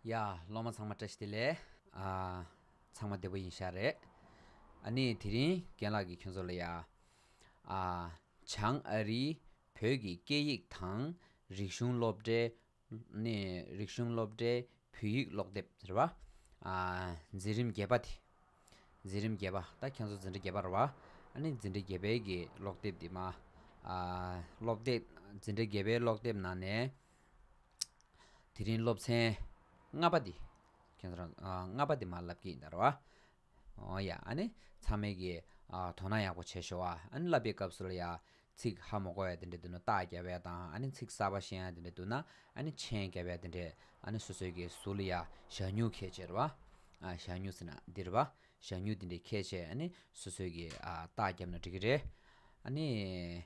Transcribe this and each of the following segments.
ཡ། སློབ་མ་ཚང་མ་བཀྲ་ཤིས་བདེ་ལེགས། ཚང་མ་བདེ་པོ་ཡིན་ཤག་རེད། ཨ་ནི་དེ་རིང་རྒན་ལགས་ཀྱིས་ཁྱོད་ཚོ་ལ་ཡ། བྱང་ཨ་རིའི་བོད་ཀྱི་སྐད་ཡིག་དང་རིག་གཞུང་སློབ་གྲྭའི་ནས་རིག་གཞུང་སློབ་གྲྭའི་བོད་ཡིག་ཀློག་དེབ་རེད་བ། འཛིན་རིམ་བརྒྱད་པ་དེ། འཛིན་རིམ་བརྒྱད་པ་ད་ཁྱེད་ཚོ་འཛིན་གྲྭ་བརྒྱད་པ་རེད་བ། ནས་འཛིན་གྲྭ་བརྒྱད་པའི་གི་ཀློག་དེབ་དེ་མ། སློབ་དེབ་འཛིན་གྲྭ་བརྒྱད་པའི་ཀློག་དེབ་ནང་ནས། དེ་རིང་སློབ་ཚན་ལྔ་པ་དེ། ཁྱེད་ཚོ་རང་ལྔ་པ་དེ་མ་ལབ་ཀྱི་ཡིན་ད་རེད་བ། ཡང། ཚང་མས་ཀྱིས། དོ་སྣང་ཡག་པོ་བྱེད་ཤོག་ཨ། བསླབ་པའི་སྐབས་སུ་ལ་ཡང། ཚིག་ཧ་མོ་གོ་བས་དེ་འདྲས་འདུག་ན་རྟགས་རྒྱ་བས་དང། ཚིག་གསར་པ་ཤེས་ཡང་དེ་འདྲས་འདུག་ན། མཆན་རྒྱ་བས་དེ་འདྲས། སོ་སོའི་ཀྱི་སུ་ལ་ཡང། ཞག་སྨྱུག་ཁས་བཅད་ར་བ། ཞག་སྨྱུག་ཟེར་ན་འདི་ར་བ། ཞག་སྨྱུག་དེ་འདྲས་ཁས་བཅད། སོ་སོའི་ཀྱི། རྟགས་རྒྱབ་ན་འགྲིག་གི་རེད།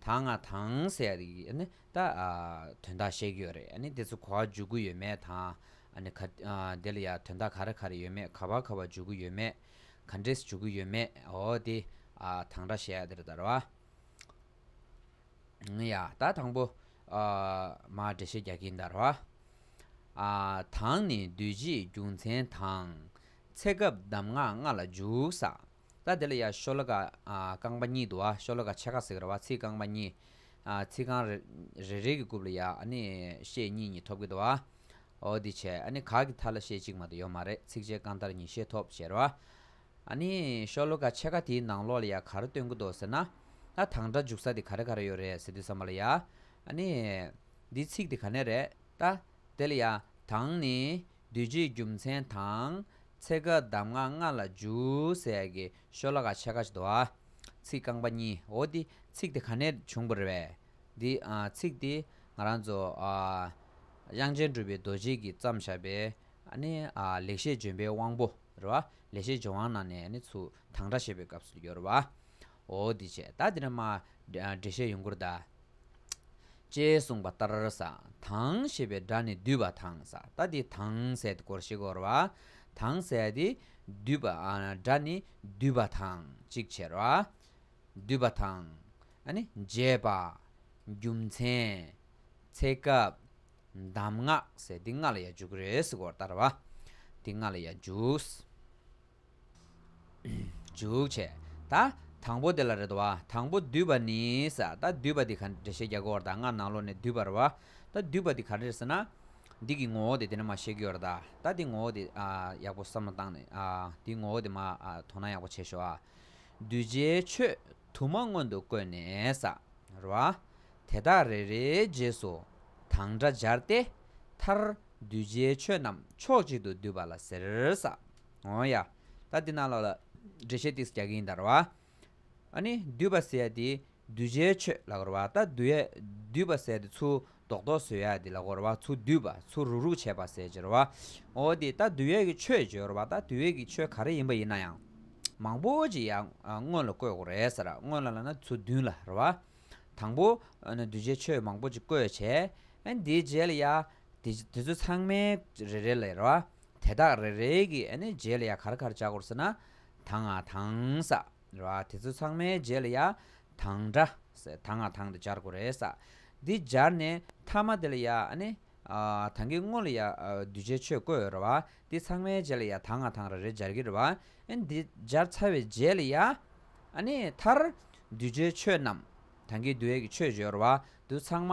ད་ང་དང་ཟེར་ནི་ད་དོན་དག་བཤད་ཀྱི་ཡོད་རེད་ནི་དེ་ཚོ་གོ་བ་འཇུག་གི་ཡོད་མེད་དང། ག་དེ་ལ་ཡ་དོན་དག་ག་རེ་ག་རེ་ཡོད་མེད་ག་བ་ག་བ་འཇུག་གི་ཡོད་མེད་ག་འདྲེས་འཇུག་གི་ཡོད་མེད་འོ་དེ་དང་འདྲ་བཤད་དེ་རེད་ད་ར་བ། ཡ་ད་དང་པོ་མ་འགྲེལ་བཤད་རྒྱག་གིན་ད་ར་བ། དང་ནི་འདུས་བྱས་རྒྱུ་མཚན་དང། ཚེ་སྐབས་གདམས་ངག་ལྔ་ལ་འཇུག་ས། ལ། དེ་ལ་ཡང་ཤོ་ལོ་ཀ་རྐང་པ་གཉིས་འདུག་ཨ་ཤོ་ལོ་ཀ་ཕྱེད་ཀ་ཟེར་གི་ར་བ་ཚིགས་རྐང་པ་གཉིས། ཚིགས་རྐང་རེ་རེ་གི་རྐུབ་ལ་ཡང་ནི་ཤེད་གཉིས་གཉིས་ཐོབ་གི་འདུག་ཨ། འོ་དེ་བྱས་ཨ་ནི་གག་གི་མཐའ་ལ་ཤེད་གཅིག་མ་དུ་ཡོད་མ་རེད་ཚིགས་བཅད་རྐང་ལྟར་གཉིས་ཤེད་ཐོབ་ཟེར་ར་བ། ཨ་ནི་ཤོ་ལོ་ཀ་ཕྱེད་ཀ་དེའི་ནང་ལོགས་ལ་ཡང་ག་རེ་སྟོན་གི་འདུག་ཟེར་ན། ཨ་དང་སྒྲ་འཇུག་ས་དེ་ག་རེ་ག་རེ་ཡོད་རེད་ཟེར་དུས་བསམ་བ་ལ་ཡ། ཨ་ནི། འདིའི་ཚིགས་དེ་ག་ནས་རེད་ད། དེ་ལ་ཡང་དང་ནི་བདུད་རྩིའི་རྒྱུ་མཚན་དང། ཚེ་དགའ་གདམས་ངག་ལྔ་ལ་འཇུ་ཟད་ཀྱི་ཤོ་ལ་ག་ཆད་ཁ་ཟློ་བ། ཚིག་རྐང་པ་གཉིས་འོ་འདི་ཚིག་དེ་ག་ནས་བྱུང་པར་བས། འདི་ཚིག་འདི་ང་རང་ཚོ། དབྱངས་ཅན་གྲུབ་པའི་རྡོ་རྗེས་ཀྱིས་བརྩམས་བཞག་པའི། ལེགས་བཤད་ལྗོན་པའི་དབང་པོ། ལེགས་བཤད་ལྗོན་དབང་ནང་ནས་ཚུ་དང་སྒྲ་བཤད་པའི་སྐབས་སུ་ཡོད་རེད་བ། འོ་འདི་བྱས་ད་འདི་ན་མ། འགྲེལ་བཤད་ཡོང་ཁུར་གདའ། ཅེས་གསུངས་པ་ལྟར་ས་དང་ཞེས་པའི་སྒྲ་ནི་འདུས་པ་དང་ས་ཏཱ་ཏི་དང་ཟད་དེ་གོར་ཞེས་བོར་བ་དང་ཟད་དེ། འདུས་པ་སྒྲ་ནི་འདུས་པ་དང་ཅིག་ཆར་བ། འདུས་པ་དང། འཇས་པ། རྒྱུ་མཚན། ཚེ་སྐབས། གདམས་ངག་ཟད་དེ་ལྔ་ལ་ཡ་འཇུག་རེས་བོར་ལྟར་བ། དེ་ལྔ་ལ་ཡ་འཇུག། འཇུག། བྱས། ད། དང་པོ་དེ་ལ་རེད་བ། དང་པོ་བསྡུས་པ་ནི། ས། ད་བསྡུས་པ་འདི་ག་འདྲེ་ཞེས་རྒྱག་གི་བར་ད་སྔར་ནང་ལོགས་ནས་བསྡུས་པར་བ། ད་བསྡུས་པ་འདི་ག་འདྲེར་ཟེར་ན། འདི་གི་ངོ་བོ་དེ་དེ་ནས་མ་ཤེས་ཀྱི་བར་ད། ད་འདི་ངོ་བོ་དེ། ཡག་པོ་བསམ་བློ་བཏང་ནས། འདི་ངོ་བོ་དེ་མ། དོ་ན་ཡག་པོ་བྱེད་ཤོག་ཨ། གདུལ་བྱའི་ཆོས། དུ་མ་སྔོན་དུ་བཀོད་ནས་ས། ར་བ། དེ་དག་རེ་རེའི་རྗེས་སུ། དང་སྒྲ་སྦྱར་ཏེ། མཐར། གདུལ་བྱའི་ཆོས་རྣམས་ཕྱོགས་གཅིག་ཏུ་བསྡུས་པ་ལ་ཟེར། ས། ཨོ་ཡ། ད་འདི་ནང་ལོགས་ལ། འགྲེལ་བཤད་ཏིགས་སུ་རྒྱག་གི་ཡིན་ད་ར་བ། ཨ་ནི་འདུས་པ་ཟེར་ཡ་དེ་གདུལ་བྱའི་ཆོས་ལ་གོ་ར་བ། ད་འདུས་ཡ། འདུས་པ་ཟེར་དེ་ཚུར་ལྡོག་ལྡོག་བཟོས་ཡ་དེ་ལ་གོ་ར་བ། ཚུར་འདུས་པ། ཚུར་རུག་རུག་བྱས་པ་ཟེར་བྱས་ར་བ། ཨོ་དེ་ད་འདུས་ཡ་གི་ཆོས་བརྗོད་ར་བ། ད་འདུས་ཡ་གི་ཆོས་ག་རེ་ཡིན་པ་ཡིན་ན་ཡང། མང་པོ་ཅིག་ཡ། སྔོན་ལ་བཀོད་གོ་རེད་ཟེར་ར། སྔོན་ལ་ལ་ན་ཚུར་འདུས་ལ་ར་བ། དང་པོ། འདུས་བྱས་ཆོས་མང་པོ་ཅིག་བཀོད་བྱས། འདིའི་རྗེས་ལ་ཡ། དེ་ཚོ་ཚང་མའི་རེ་རེ་ལས་རོ། དེ་དག་རེ་རེ་གི་རྗེས་ལ་ཡང་གར་གར་བྱ་གོར་ས་ན། དང་ང་དང་ས་རོ། དེ་ཚོ་ཚང་མའི་རྗེས་ལ་ཡང་དང་འདྲ། དང་ང་དང་འདྲ་སྦྱར་གོ་རེ་ས། འདི་སྦྱར་ནས་ཐ་མ་དེ་ལ་ཡང། དང་གི་དངོས་ལ་ཡང་གདུལ་བྱའི་ཆོས་བཀོད་རོ། འདི་ཚང་མའི་རྗེས་ལ་ཡང་དང་ང་དང་རེ་རེ་སྦྱར་གི་རོ། འདི་སྦྱར་ཚར་བའི་རྗེས་ལ་ཡང། མཐར། གདུལ་བྱའི་ཆོས་རྣམས། དང་གི་འདུལ་བའི་ཆོས་བརྗོད་རོ། འདི་ཚང་མ་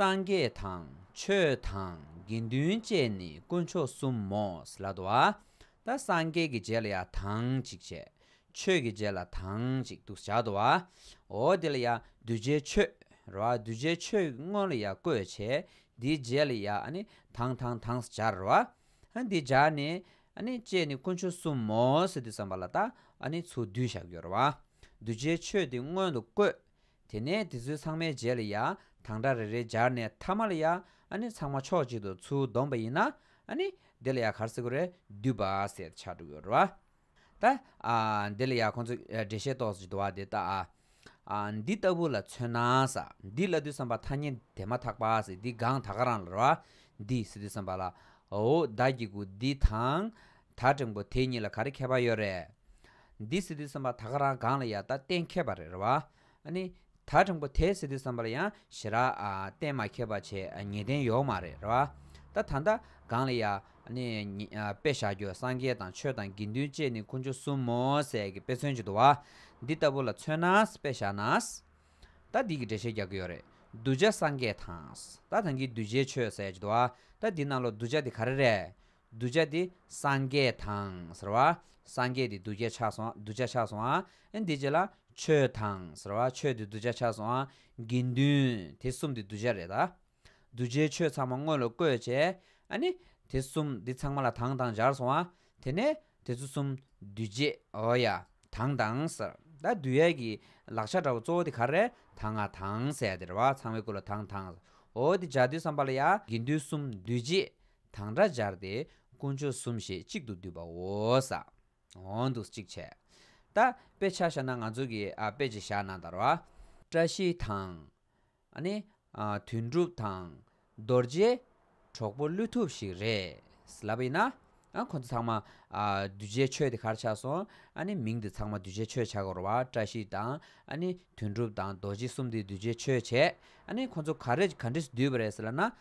སངས་རྒྱས་དང་ཆོས་དང་དགེ་འདུན་བཅས་ནི་དཀོན་མཆོག་གསུམ་མོ། ལ་དྭགས་ད་སངས་རྒྱས་ཀྱི་རྗེས་ལ་ཡང་དང་ཅིག་བྱས། ཆོས་ཀྱི་རྗེས་ལ་དང་ཅིག་ཏུ་བྱ། ད་ཨོ་དེ་ལ་ཡང་གདུལ་བྱའི་ཆོས། རོ་ཨ་གདུལ་བྱའི་ཆོས་དངོས་ལ་ཡང་བཀོད་བྱས། དེའི་རྗེས་ལ་ཡང་དང་དང་དང་སྦྱར། རོ་ཨ་དེ་སྦྱར་ནས། བཅས་ནི་དཀོན་མཆོག་གསུམ་མོ། དེ་བསམས་པ་ལ་ད་ཨོ་ནི་ཚུར་བསྡུས་བཞག་གྱུར། རོ་ཨ་གདུལ་བྱའི་ཆོས་དེ་སྔོན་དུ་བཀོད། དེ་ནས་དེ་ཚོའི་ཚང་མའི་རྗེས་ལ་ཡང་དང་སྒྲ་རེ་རེ་སྦྱར་ནས་མཐའ་མ་ལ་ཡང་ཚང་མ་ཕྱོགས་གཅིག་ཏུ་ཚུར་བསྡོམས་པ་ཡིན་ན། དེ་ལ་ཡང་གར་སེ་གུ་རེ་འདུས་པ་ཟེར་ཆགས་འགྲོ་གི་ཡོད་རེད་བ། ད་འདི་ལ་ཡང་ཁོང་ཚོས་འགྲེལ་བཤད་ཏོག་ཙེ་བ་དེ་དག་འདི་ལྟ་བུ་ལ་མཚོན་ན། འདི་བླ་བདུད་བསམ་པ་ཐ་སྙད་དེ་མ་ཐག་པ་འདི་གང་ད་ག་རང་ལ་ར་བ། འདི་སི་ཏུ་བསམ་པ་ལ་འོ་བདག་གི་གུ་འདི་དང། ད་འབྲིང་པོ་དེ་གཉིས་ལ་ག་རེ་ཁྱད་པར་ཡོད་རེད། འདི་སི་ཏུ་སེམས་པ་ད་ག་རང་གང་ལ་ཡག་ད་གཏན་མཁས་པ་རེད་བ། ནི། ད་འབྲིང་པོ་དེ་སི་ཏུ་སེམས་པ་ལ་ཡང་ཞེ་ར། གཏན་མ་མཁས་པ་ཆེ་ངེས་གཏན་ཡོག་མ་རེད་ར་བ། ད་ད་ད་གང་ལ་ཡག། ནི། དཔེ་བཞག་རྒྱུ་སངས་རྒྱས་དང་ཆོས་དང་དགེ་འདུན་བཅས་ནི་ཁུ་འཕྱོ་གསུམ་མོ་ཟས་ཀྱི་དཔེ་མཚོན་བྱེད་དུ་བ། འདི་ལྟ་བུ་ལ་མཚོན་ན་དཔེ་བཞག་ན། ད་འདི་གི་འགྲེལ་བཤད་རྒྱག་གི་ཡོད་རེད། གདུལ་བྱ་སངས་རྒྱས་དང། ད་ད་གི་གདུལ་བྱའི་ཆོས་ཟས་བྱེད་དུ་བ། ད་འདི་རྣམས་ལ་གདུལ་བྱ་དེ་ག་རེ་རེད། གདུལ་བྱ་དེ་སངས་རྒྱས་དང་ཟེར་བ། སངས་རྒྱས་དེ་གདུལ་བྱ་ཆགས་སོང་གདུལ་བྱ་ཆགས་སོང་ཨ། འདི་ཅི་ལ། ཆོས་དང་ཟེར་བ་ཆོས་དེ་གདུལ་བྱ་ཆགས་སོང་ཨ། དགེ་འདུན་དེ་གསུམ་དེ་གདུལ་བྱ་རེད་ད། གདུལ་བྱའི་ཆོས་ཚང་མ་དངོས་ལ་བཀོད་བྱས་ཨ་ནི། དེ་གསུམ་དེ་ཚང་མ་ལ་དང་དང་སྦྱར་སོང་ཨ། དེ་ནས་དེ་ཚོ་གསུམ་འདུས་བྱས་ཨོ་ཡ། དང་དང་ཟེར། ད་བསྡུས་ཡས་ཀྱི་ལག་ཆ་འདྲ་བོ་གཙོ་བོ་དེ་ག་རེད་ད་ང་དང་ཟེར་ཡ་དེ་རེད་བ་ཚང་བའི་སྐུ་ལ་དང་དང། ཨོ་དེ་འཇའ་འདུས་སམ་པ་ལ་ཡ། དགེ་འདུན་གསུམ་འདུས་བྱས་དང་སྒྲ་སྦྱར་ཏེ་དཀོན་མཆོག་གསུམ་ཞེས་གཅིག་ཏུ་བསྡུས་པའོ། ས་འོག་ཏུ་གཅིག་བྱས། རྟ་དཔེ་ཆ་བཞག་ན་ང་ཚོ་གི་དཔེ་ཅི་བཞག་ན་དར་བ། བཀྲ་ཤིས་དང། ནི། དོན་འགྲུབ་དང། རྡོ་རྗེ། གྲོགས་པོ་བློས་ཐུབ་ཞིག་རེད། ལབ་པ་ཡིན་ན། ཁོ་ཚོ་ཚང་མ། གདུལ་བྱའི་ཆོས་དེ་གར་ཆགས་སོང། ནི་མིང་དེ་ཚང་མ་གདུལ་བྱའི་ཆོས་བྱ་དགོས་ར་བ། བཀྲ་ཤིས་དང། ནི། དོན་འགྲུབ་དང་རྡོ་རྗེ་གསུམ་དེ་གདུལ་བྱའི་ཆོས་བྱས། ནི་ཁོ་ཚོ་ག་རེ་ག་འདྲི་བསྡུས་པ་རེད་ཟེར་ན།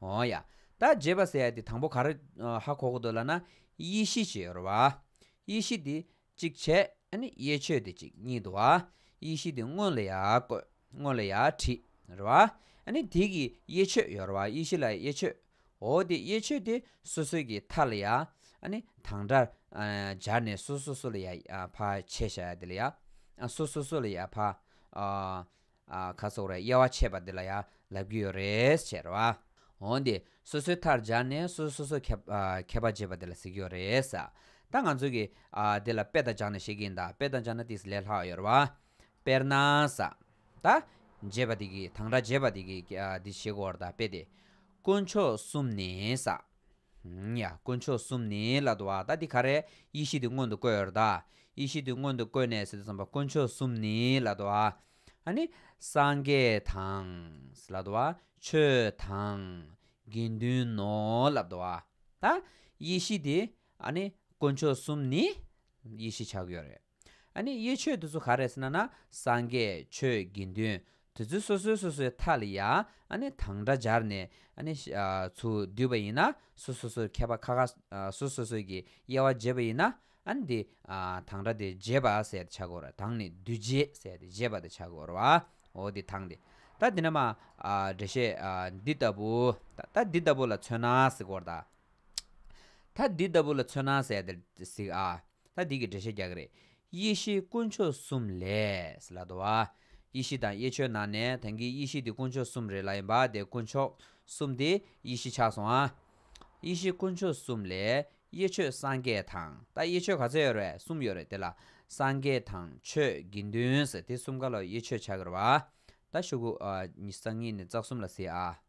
ཨོ་ཡ། ད་རྗེས་པ་ཟེར་ཡ་དེ་དང་པོ་ག་རེ་ཧ་གོ་གི་འདུག་ལ་ན། ཡེ་ཤེས་ཅེས་ཡོད་རེད་བ། ཡེ་ཤེས་དེ་གཅིག་བྱས། ཡེ་ཆོས་དེ་གཅིག་གཉིས་འདུག་བ། ཡེ་ཤེས་དེ་དངོས་ལ་ཡག་བཀོད། དངོས་ལ་ཡག་བྲིས། རེད་བ། དེ་གི་ཡེ་ཆོས་ཡོད་རེད་བ། ཡེ་ཤེས་ལ་ཡེ་ཆོས། ཨོ་དེ་ཡེ་ཆོས་དེ་སོ་སོའི་གི་མཐའ་ལ་ཡག། དང་སྒྲ། སྦྱར་ནས་སོ་སོ་སོ་ལ་ཡག་ཕ་ཆེ་བྱ་ཡ་དེ་ལ་ཡག། སོ་སོ་སོ་ལ་ཡག་ཕ། ཁ་སོགས་རེ་དབྱེ་བ་ཕྱེས་པ་འདི་ལ་ཡང་ལབ་ཀྱི་ཡོད་རེད་ཟེར་བ། འོན་ཏེ་སོ་སོའི་མཐར་སྦྱར་ནས་སོ་སོས་སོ་སོའི་ཁྱད་པར་འབྱེད་པ་འདི་ལ་ཟེར་གྱི་ཡོད་རེད། ད་ང་ཚོས་ཀྱིས་འདི་ལ་དཔེ་དང་སྦྱར་ནས་བཤད་ཀྱི་ཡིན་ད་དཔེ་དང་སྦྱར་ན་དེས་ལས་ལྷག་ཡོད་རེད་བ། དཔེར་ན། ད། འབྱེད་པ་འདི་གྱིས་དང་སྒྲ་འབྱེད་པ་འདི་གྱིས་འདི་བྱེད་དགོས་བར་ད་དཔེ་དེ། དཀོན་མཆོག་གསུམ་ནི། དཀོན་མཆོག་གསུམ་ནི་ལ་དྭགས་བ་ད་འདི་ག་རེ་ཡེ་ཤེས་དེ་སྔོན་དུ་བཀོད་ད་ཡེ་ཤེས་དེ་སྔོན་དུ་བཀོད་ནས་བསམ་པ་དཀོན་མཆོག་གསུམ་ནི་ལ་དྭགས་བ་ཨ་ནི་སངས་རྒྱས་དང་ལ་དྭགས་བ་ཆོས་དང་དགེ་འདུན་ནོ་ལ་དྭགས་བ་ད་ཡེ་ཤེས་དེ་ཨ་ནི་དཀོན་མཆོག་གསུམ་ནི་ཡེ་ཤེས་ཆགས་ཡོད་རེད། ཨ་ནི་ཡེ་ཆོས་དེ་ཚོ་ག་རེད་ཟེར་ན་ན་སངས་རྒྱས་ཆོས་དགེ་འདུན་དེ་ཚོའི་སོ་སོའི་སོ་སོའི་མཐའ་ལ་ཡང་ཨ་ནི་དང་སྒྲ་སྦྱར་ནས་ཨ་ནི་ཚུར་བསྡུས་པ་ཡིན་ན་སོ་སོ་སོའི་མཁས་པ་ཁ་ཁ་སོ་སོ་སོས་ཀྱི་དབྱེ་བ་འབྱེད་པ་ཡིན་ན་ཨ་ནི་དེ་དང་སྒྲ་དེ་འབྱེད་པ་ཟེར་ཏེ་བྱ་དགོས་ར་དང་ནི་འདུས་བྱས་ཟེར་ཏེ་འབྱེད་པ་དེ་བྱ་དགོས་རའོ་དེ་དང་དེ་ད་དེ་ན་མ་འགྲེལ་བཤད་འདི་ལྟ་བུ་ད་འདི་ལྟ་བུ་ལ་མཚོན་ན་གཟིགས་སྐོར་ད་འདི་ལྟ་བུ་ལ་མཚོན་ན་ཟེར་ཏེ་གཟིགས་ཨ། ད་འདི་གི་འགྲེལ་བཤད་རྒྱག་གི་རེད། ཡེ་ཤེས་དཀོན་མཆོག་གསུམ་ལས། ལ་དྭགས། ཡེ་ཤེས་དང་ཡེ་ཆོས་ནང་ནས་དེང་གི་ཡེ་ཤེས་དེ་དཀོན་མཆོག་གསུམ་རེད་ལ་ཡིན་པ་དེ་དཀོན་མཆོག་གསུམ་དེ་ཡེ་ཤེས་ཆགས་སོང་ཨ། ཡེ་ཤེས་དཀོན་མཆོག་གསུམ་ལས། ཡེ་ཆོས་སངས་རྒྱས་དང་ད་ཡེ་ཆོས་ག་ཚད་ཡོད་རེད་གསུམ་ཡོད་རེད་དེ་ལ་སངས་རྒྱས་དང་ཆོས་དགེ་འདུན་ཟེར་དེ་གསུམ་ག་ལ་ཡེ་ཆོས་ཆགས་གི་རེད་བ། ད་ཤོག་གུ། སང་ཉིན་ནས་རྩ་གསུམ་ལ་ཟེར་ཨ།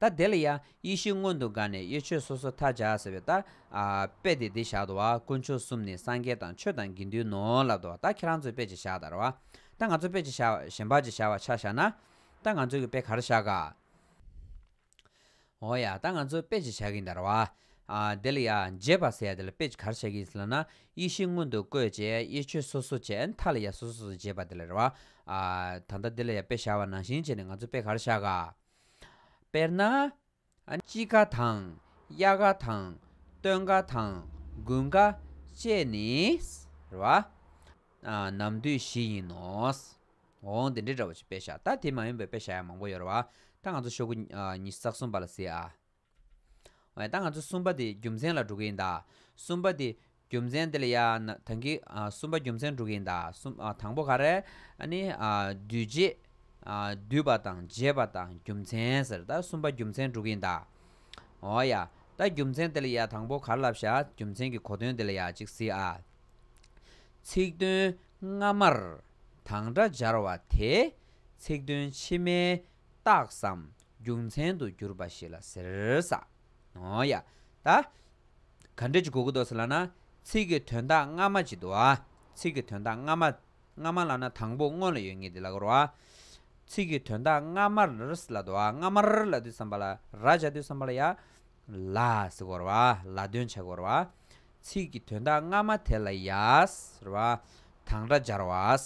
ད་དེ་ལ་ཡང་ཡེ་ཤེས་སྔོན་དུ་འགགས་ནས་གཡོ་ཆོས་སོ་སོ་མཐར་བྱ་ཟེར་བའི་ལྟར། དཔེ་དེ་འདི་བཞག་ཏུ་བ་དཀོན་མཆོག་གསུམ་ནི་སངས་རྒྱས་དང་ཆོས་དང་དགེ་འདུན་ནོ་ལབ་ཏུ་བ་ད་ཁྱེད་རང་ཚོས་དཔེ་ཅི་བཞག་ལྟར་བ། ད་ང་ཚོ་དཔེ་ཅི་བཞག་གཞན་པར་ཅི་བཞག་བ་ཆ་བཞག་ན། ད་ང་ཚོས་ཀྱི་དཔེ་གར་བཞག་ག། འོ་ཡ་ད་ང་ཚོས་དཔེ་ཅི་བཞག་གིན་ལྟར་བ། དེ་ལ་ཡང་རྗེས་པར་ཟེར་ཡ་དེ་ལ་དཔེ་ཅི་གར་བཞག་གིན་ཟེར་ལ་ན་ཡེ་ཤེས་སྔོན་དུ་བཀོད་བྱས་གཡོ་ཆོས་སོ་སོ་བྱས་མཐའ་ལ་ཡང་སོ་སོ་སོ་རྗེས་པ་དེ་ལ་རེ་བ། ད་ལྟ་དེ་ལ་ཡང་དཔེ་བཞག་བ་ནང་བཞིན་བྱས་ནས་ང་ཚོས་དཔེ་གར་བཞག་ག། དཔེར་ན། དཔྱིད་ཀ་དང་དབྱར་ཀ་དང་སྟོན་ཀ་དང་དགུན་ཀ་བཅས་ནི། རེ་བ། ནམ་དུས་བཞི་ཡིན་ནོ། འོ་འདི་འདྲའི་འདྲ་བ་ཅིག་དཔེ་བཞག་ད་དེ་མ་ཡིན་པའི་དཔེ་བཞག་ཡང་མང་པོ་ཡོད་རེ་བ། ད་ང་ཚོ་ཤོག་བུ་ཉིས་བརྩེགས་གསུམ་པ་ལ་གཟིགས་ཨ། ད་ང་ཚོ་གསུམ་པ་དེ་རྒྱུ་མཚན་ལ་འགྲོ་གི་ཡིན་ད། གསུམ་པ་དེ་རྒྱུ་མཚན་དེ་ལ་ཡ། དང་གི། གསུམ་པ་རྒྱུ་མཚན་འགྲོ་གི་ཡིན་ད། དང་པོ་ག་རེ། ཨཱ་ནི། འདུས་བྱས། འདུས་པ་དང་བྱས་པ་དང་རྒྱུ་མཚན་ཟེར། ད་གསུམ་པ་རྒྱུ་མཚན་འགྲོ་གི་ཡིན་ད། འོ་ཡ། ད་རྒྱུ་མཚན་དེ་ལ་ཡ་དང་པོ་གར་ལབ་ཤ། རྒྱུ་མཚན་གྱི་གོ་དོན་དེ་ལ་ཡ་གཅིག་གཟིགས་ཨ། ཚིག་དོན་སྔ་མར་དང་སྒྲ་སྦྱར་བ་དེ། ཚིག་དོན་ཕྱི་མའི་རྟགས་སམ་རྒྱུ་མཚན་དུ་གྱུར་པ་ཞིག་ལ་ཟེར། ཨོ་ཡ། ད་ག་འགྲེལ་གྱི་གོ་གི་འདུག་ཟེར་ལགས་ན། ཚིག་གི་དོན་དག་སྔ་མ་ཅིག་འདུག་ཨ། ཚིག་གི་དོན་དག་སྔ་མ། སྔ་མ་ལགས་ན་དང་པོ་སྔོན་ལ་ཡོད་ངེས་འདི་ལ་གོ་རོགས་ཨ། ཚིག་གི་དོན་དག་སྔ་མར་ལ་འདུག་ཨ་སྔ་མར་ལ་འདུག་བསམ་པ་ལ་ར་བྱ་འདུག་བསམ་པ་ལ་ཡ། ལ་ཟེར་གོ་རོགས་ཨ་ལ་དོན་བྱ་གོ་རོགས་ཨ། ཚིག་གི་དོན་དག་སྔ་མ་དེ་ལ་ཡ། དང་སྒྲ་སྦྱར་བ།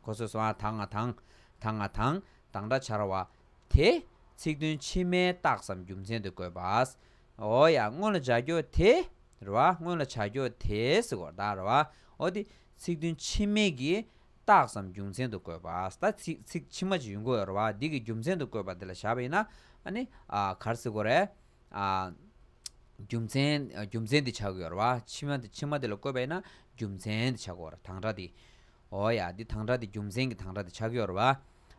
གོ་སོ་སོ་ཨ་ཐང་ང་ཐང། ཐང་ང་ཐང། དང་སྒྲ་འཆར་བ། དེ། ཚིག་དོན་ཕྱི་མའི་རྟགས་སམ་རྒྱུ་མཚན་དུ་བཀོད་པ། ཨོ་ཡ། སྔོན་ལ་བྱ་རྒྱུ་དེ། རེ་བ། སྔོན་ལ་བྱ་རྒྱུ་དེས་གོ་བརྡ། རེ་བ། ཨོ་དེ། ཚིག་དོན་ཕྱི་མའི་གི། རྟགས་སམ་རྒྱུ་མཚན་དུ་བཀོད་པ། ད། ཚིག། ཕྱི་མ་ཅི་ཡིན་གོ། རེ་བ། འདི་གི་རྒྱུ་མཚན་དུ་བཀོད་པ་འདི་ལ་བཞག་པ་ཡིན་ན། ཨ་ནི། གར་སི་གོ་རེ། རྒྱུ་མཚན། རྒྱུ་མཚན་འདི་བྱ་གོ། རེ་བ། ཕྱི་མ། ཕྱི་མ་འདི་ལ་བཀོད་པ་ཡིན་ན། རྒྱུ་མཚན་འདི་བྱ་གོ། དང་སྒྲ་འདི། འོ་ཡ། འདི་དང་འདྲ་འདི་རྒྱུ་མཚན་གྱི་དང་འདྲ་འདི་ཆག་གི་ཡོར་བ།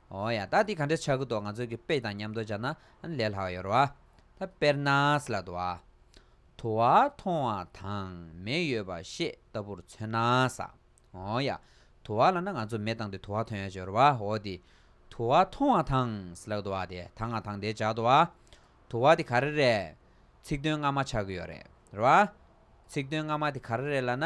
འོ་ཡ། ད་འདི་ག་འདྲ་ཆག་གི་འདུག་ང་ཚོས་གི་དཔེ་དང་མཉམ་དུ་བྱ་ན་ལས་ལྷག་ཡོར་བ། ད་དཔེར་ན་སི་ལ་དུ་བ། དུ་བ་མཐོང་བ་དང་མེ་ཡོད་པ་ཤེས་ལྟ་བུར་མཚོན་ན་ས། འོ་ཡ། དུ་བ་ལ་ན་ང་ཚོས་མེ་བཏང་སྟེ་དུ་བ་ཐོན་ཡོད་ཅེས་ཡོར་བ། འོ་དི། དུ་བ་མཐོང་བ་དང་སི་ལ་དུ་བ་དེ་དང་ང་དང་དེ་བྱ་དུ་བ། དུ་བ་དེ་ག་རེ་རེད། ཚིག་དོན་སྔ་མ་ཆག་གི་ཡོར་རེད་བ། ཚིག་དོན་སྔ་མ་དེ་ག་རེ་རེད་ལ་ན།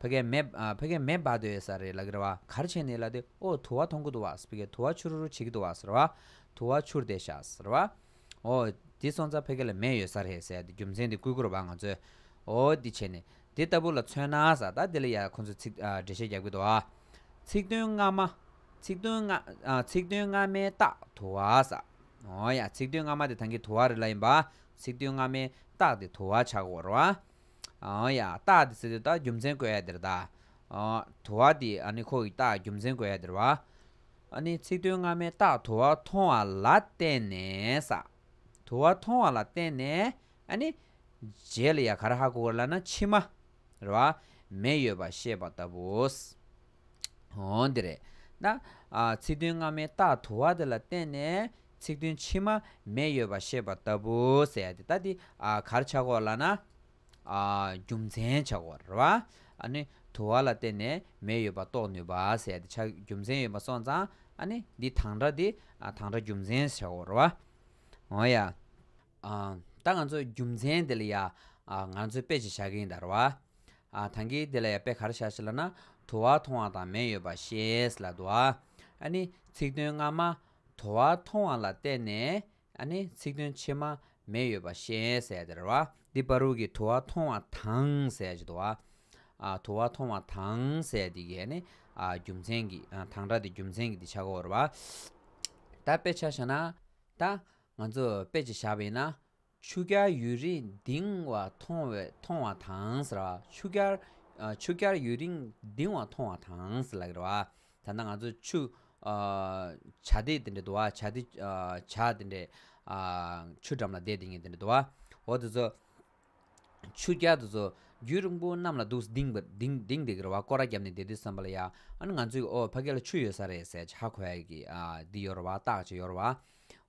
ཕ་གའི་མེ། ཕ་གའི་མེ་འབར་འདོད་ཡོད་ས་རེད་ལ་གིར་བ་གར་བྱས་ནས་ལ་དེ་ཨོ་དུ་བ་ཐོང་གི་འདུག་བ་ཕ་གའི་དུ་བ་ཆུ་རུ་རུ་བྱེད་ཀྱི་འདུག་བ་ཟེར་བ། དུ་བ་ཆུར་བསྡད་ཤག་ཟེར་བ། ཨོ། དེ་སོང་ཙང་ཕ་གའི་ལ་མེ་ཡོད་ས་རེད་ཟེར་ཏེ་རྒྱུ་མཚན་དེ་བསྐུལ་ཁུར་བ་ང་ཚོས། ཨོ་དེ་བྱས་ནས། དེ་ལྟ་བུ་ལ་མཚོན་ན་ས་ད་དེ་ལ་ཡ་ཁོ་ཚོས་ཚིག་འགྲེལ་བཤད་རྒྱབ་ཀྱི་འདུག་བ། ཚིག་དོན་སྔ་མ། ཚིག་དོན་སྔ། ཚིག་དོན་སྔ་མའི་རྟགས་དུ་བ་ས། ཨོ་ཡ་ཚིག་དོན་སྔ་མ་དེ་ཐང་གི་དུ་བ་རེད་ལ་ཡིན་པ། ཚིག་དོན་སྔ་མའི་རྟགས་དེ་དུ་བ་ཆགས་འོར་བ། ཨོ་ཡ། རྟགས་འདི་ཚེ་དེ་དག་རྒྱུ་མཚན་བཀོད་ཡ་དེར་དག། དུ་བ་འདི་ཨ་ནི་ཁོག་གི་རྟགས་རྒྱུ་མཚན་བཀོད་ཡ་དེར་བ། ཨ་ནི་ཚིག་དོན་སྔ་མའི་རྟགས་དུ་བ་མཐོང་བ་ལ་བརྟེན་ནས། དུ་བ་མཐོང་བ་ལ་བརྟེན་ནས་ཨ་ནི། རྗེས་ལ་ཡ་ག་ར་ཧ་གོ་ག་ར་ལ་ན་ཕྱི་མ། ར་བ། མེ་ཡོད་པར་ཤེས་པ་ལྟ་བུ། འདི་རེད། ན། ཚིག་དོན་སྔ་མའི་རྟགས་དུ་བ་དེ་ལ་བརྟེན་ནས་ཚིག་དོན་ཕྱི་མ་མེ་ཡོད་པར་ཤེས་པ་ལྟ་བུ་ཟེར་ཡ་དེ་ལྟ་དེ་གར་ཆག་གོ་ལ་ན། རྒྱུ་མཚན་ཆག་གོ་ར་བ། ཨ་ནི། དུ་བ་ལ་བརྟེན་ནས་མེ་ཡོད་པ་རྟོགས་ནུས་པ་ཟེར་ཡ་དེ་ཆག་རྒྱུ་མཚན་ཡོད་པ་སོང་ཙང་ཨ་ནི། འདི་དང་སྒྲ་དེ་དང་སྒྲ་རྒྱུ་མཚན་ཆག་གོ་ར་བ། ཨོ་ཡ། ད་ང་ཚོས་རྒྱུ་མཚན་དེ་ལ་ཡ་ང་ཚོས་དཔེ་ཅིག་བཞག་གིན་ད་ར་བ། ད་གི་དེ་ལ་ཡ་དཔེ་ག་རེ་བཞག་ཞེ་ལ་ན། དུ་བ་མཐོང་བ་དང་མེ་ཡོད་པ་ཤེས་ལ་དུ་བ། ནི་ཚིག་དོན་སྔ་མ། དུ་བ་མཐོང་བ་ལ་བརྟེན་ནས། ནི་ཚིག་དོན་ཕྱི་མ། མེ་ཡོད་པ་ཤེས་ཟེར་ཡ་དེ་ར་བ། འདི་པར་རུ་གི་དུ་བ་མཐོང་བ་དང་ཟེར་ཡ་ཅི་དུ་བ། དུ་བ་མཐོང་བ་དང་ཟེར་ཡ་དེ་གི་ནི། རྒྱུ་མཚན་གི་དང་སྒྲ་དེ་རྒྱུ་མཚན་གི་དེ་ཆག་གོ་ར་བ། ད་དཔེ་ཆ་བཞག་ན། ད། ང་ཚོས་དཔེ་ཅིག་བཞག་པ་ཡིན་ན། ཆུ་སྐྱར་ཡུན་རིང་ལྡིང་བ་མཐོང་བ་དང། ཆུ་སྐྱར་ཡུན་རིང་ལྡིང་བ་མཐོང་བ་དང། ད་ལྟ་ང་ཚོ་ཆུ། བྱ་དེ་འདྲ་འདུག་བྱ། ཆུ་འགྲམ་ལ་བསྡད་དེ་ངས་འདི་འདྲ་འདུག་བ། འོ་དེ་ཚོ། ཆུ་རྒྱ་དུ་ཚོ་རྒྱུད་རིང་པོ་གནམ་ལ་འདུག་ལྡིང་འདེགས་རེ་བ་སྐོར་ར་བརྒྱབ་ནས་བསྡད་དུས་བསམ་པ་ལ་ཡ་ཨ་ནི་ང་ཚོའི་ཨོ་ཕ་སྐད་ལ་ཆུ་ཡོད་ས་རེད་ཟེར་ཆ་གོ་ཡ་གི་འདི་ཡོད་རེ་བ་བརྟག་བྱེད་ཡོད་རེ་བ།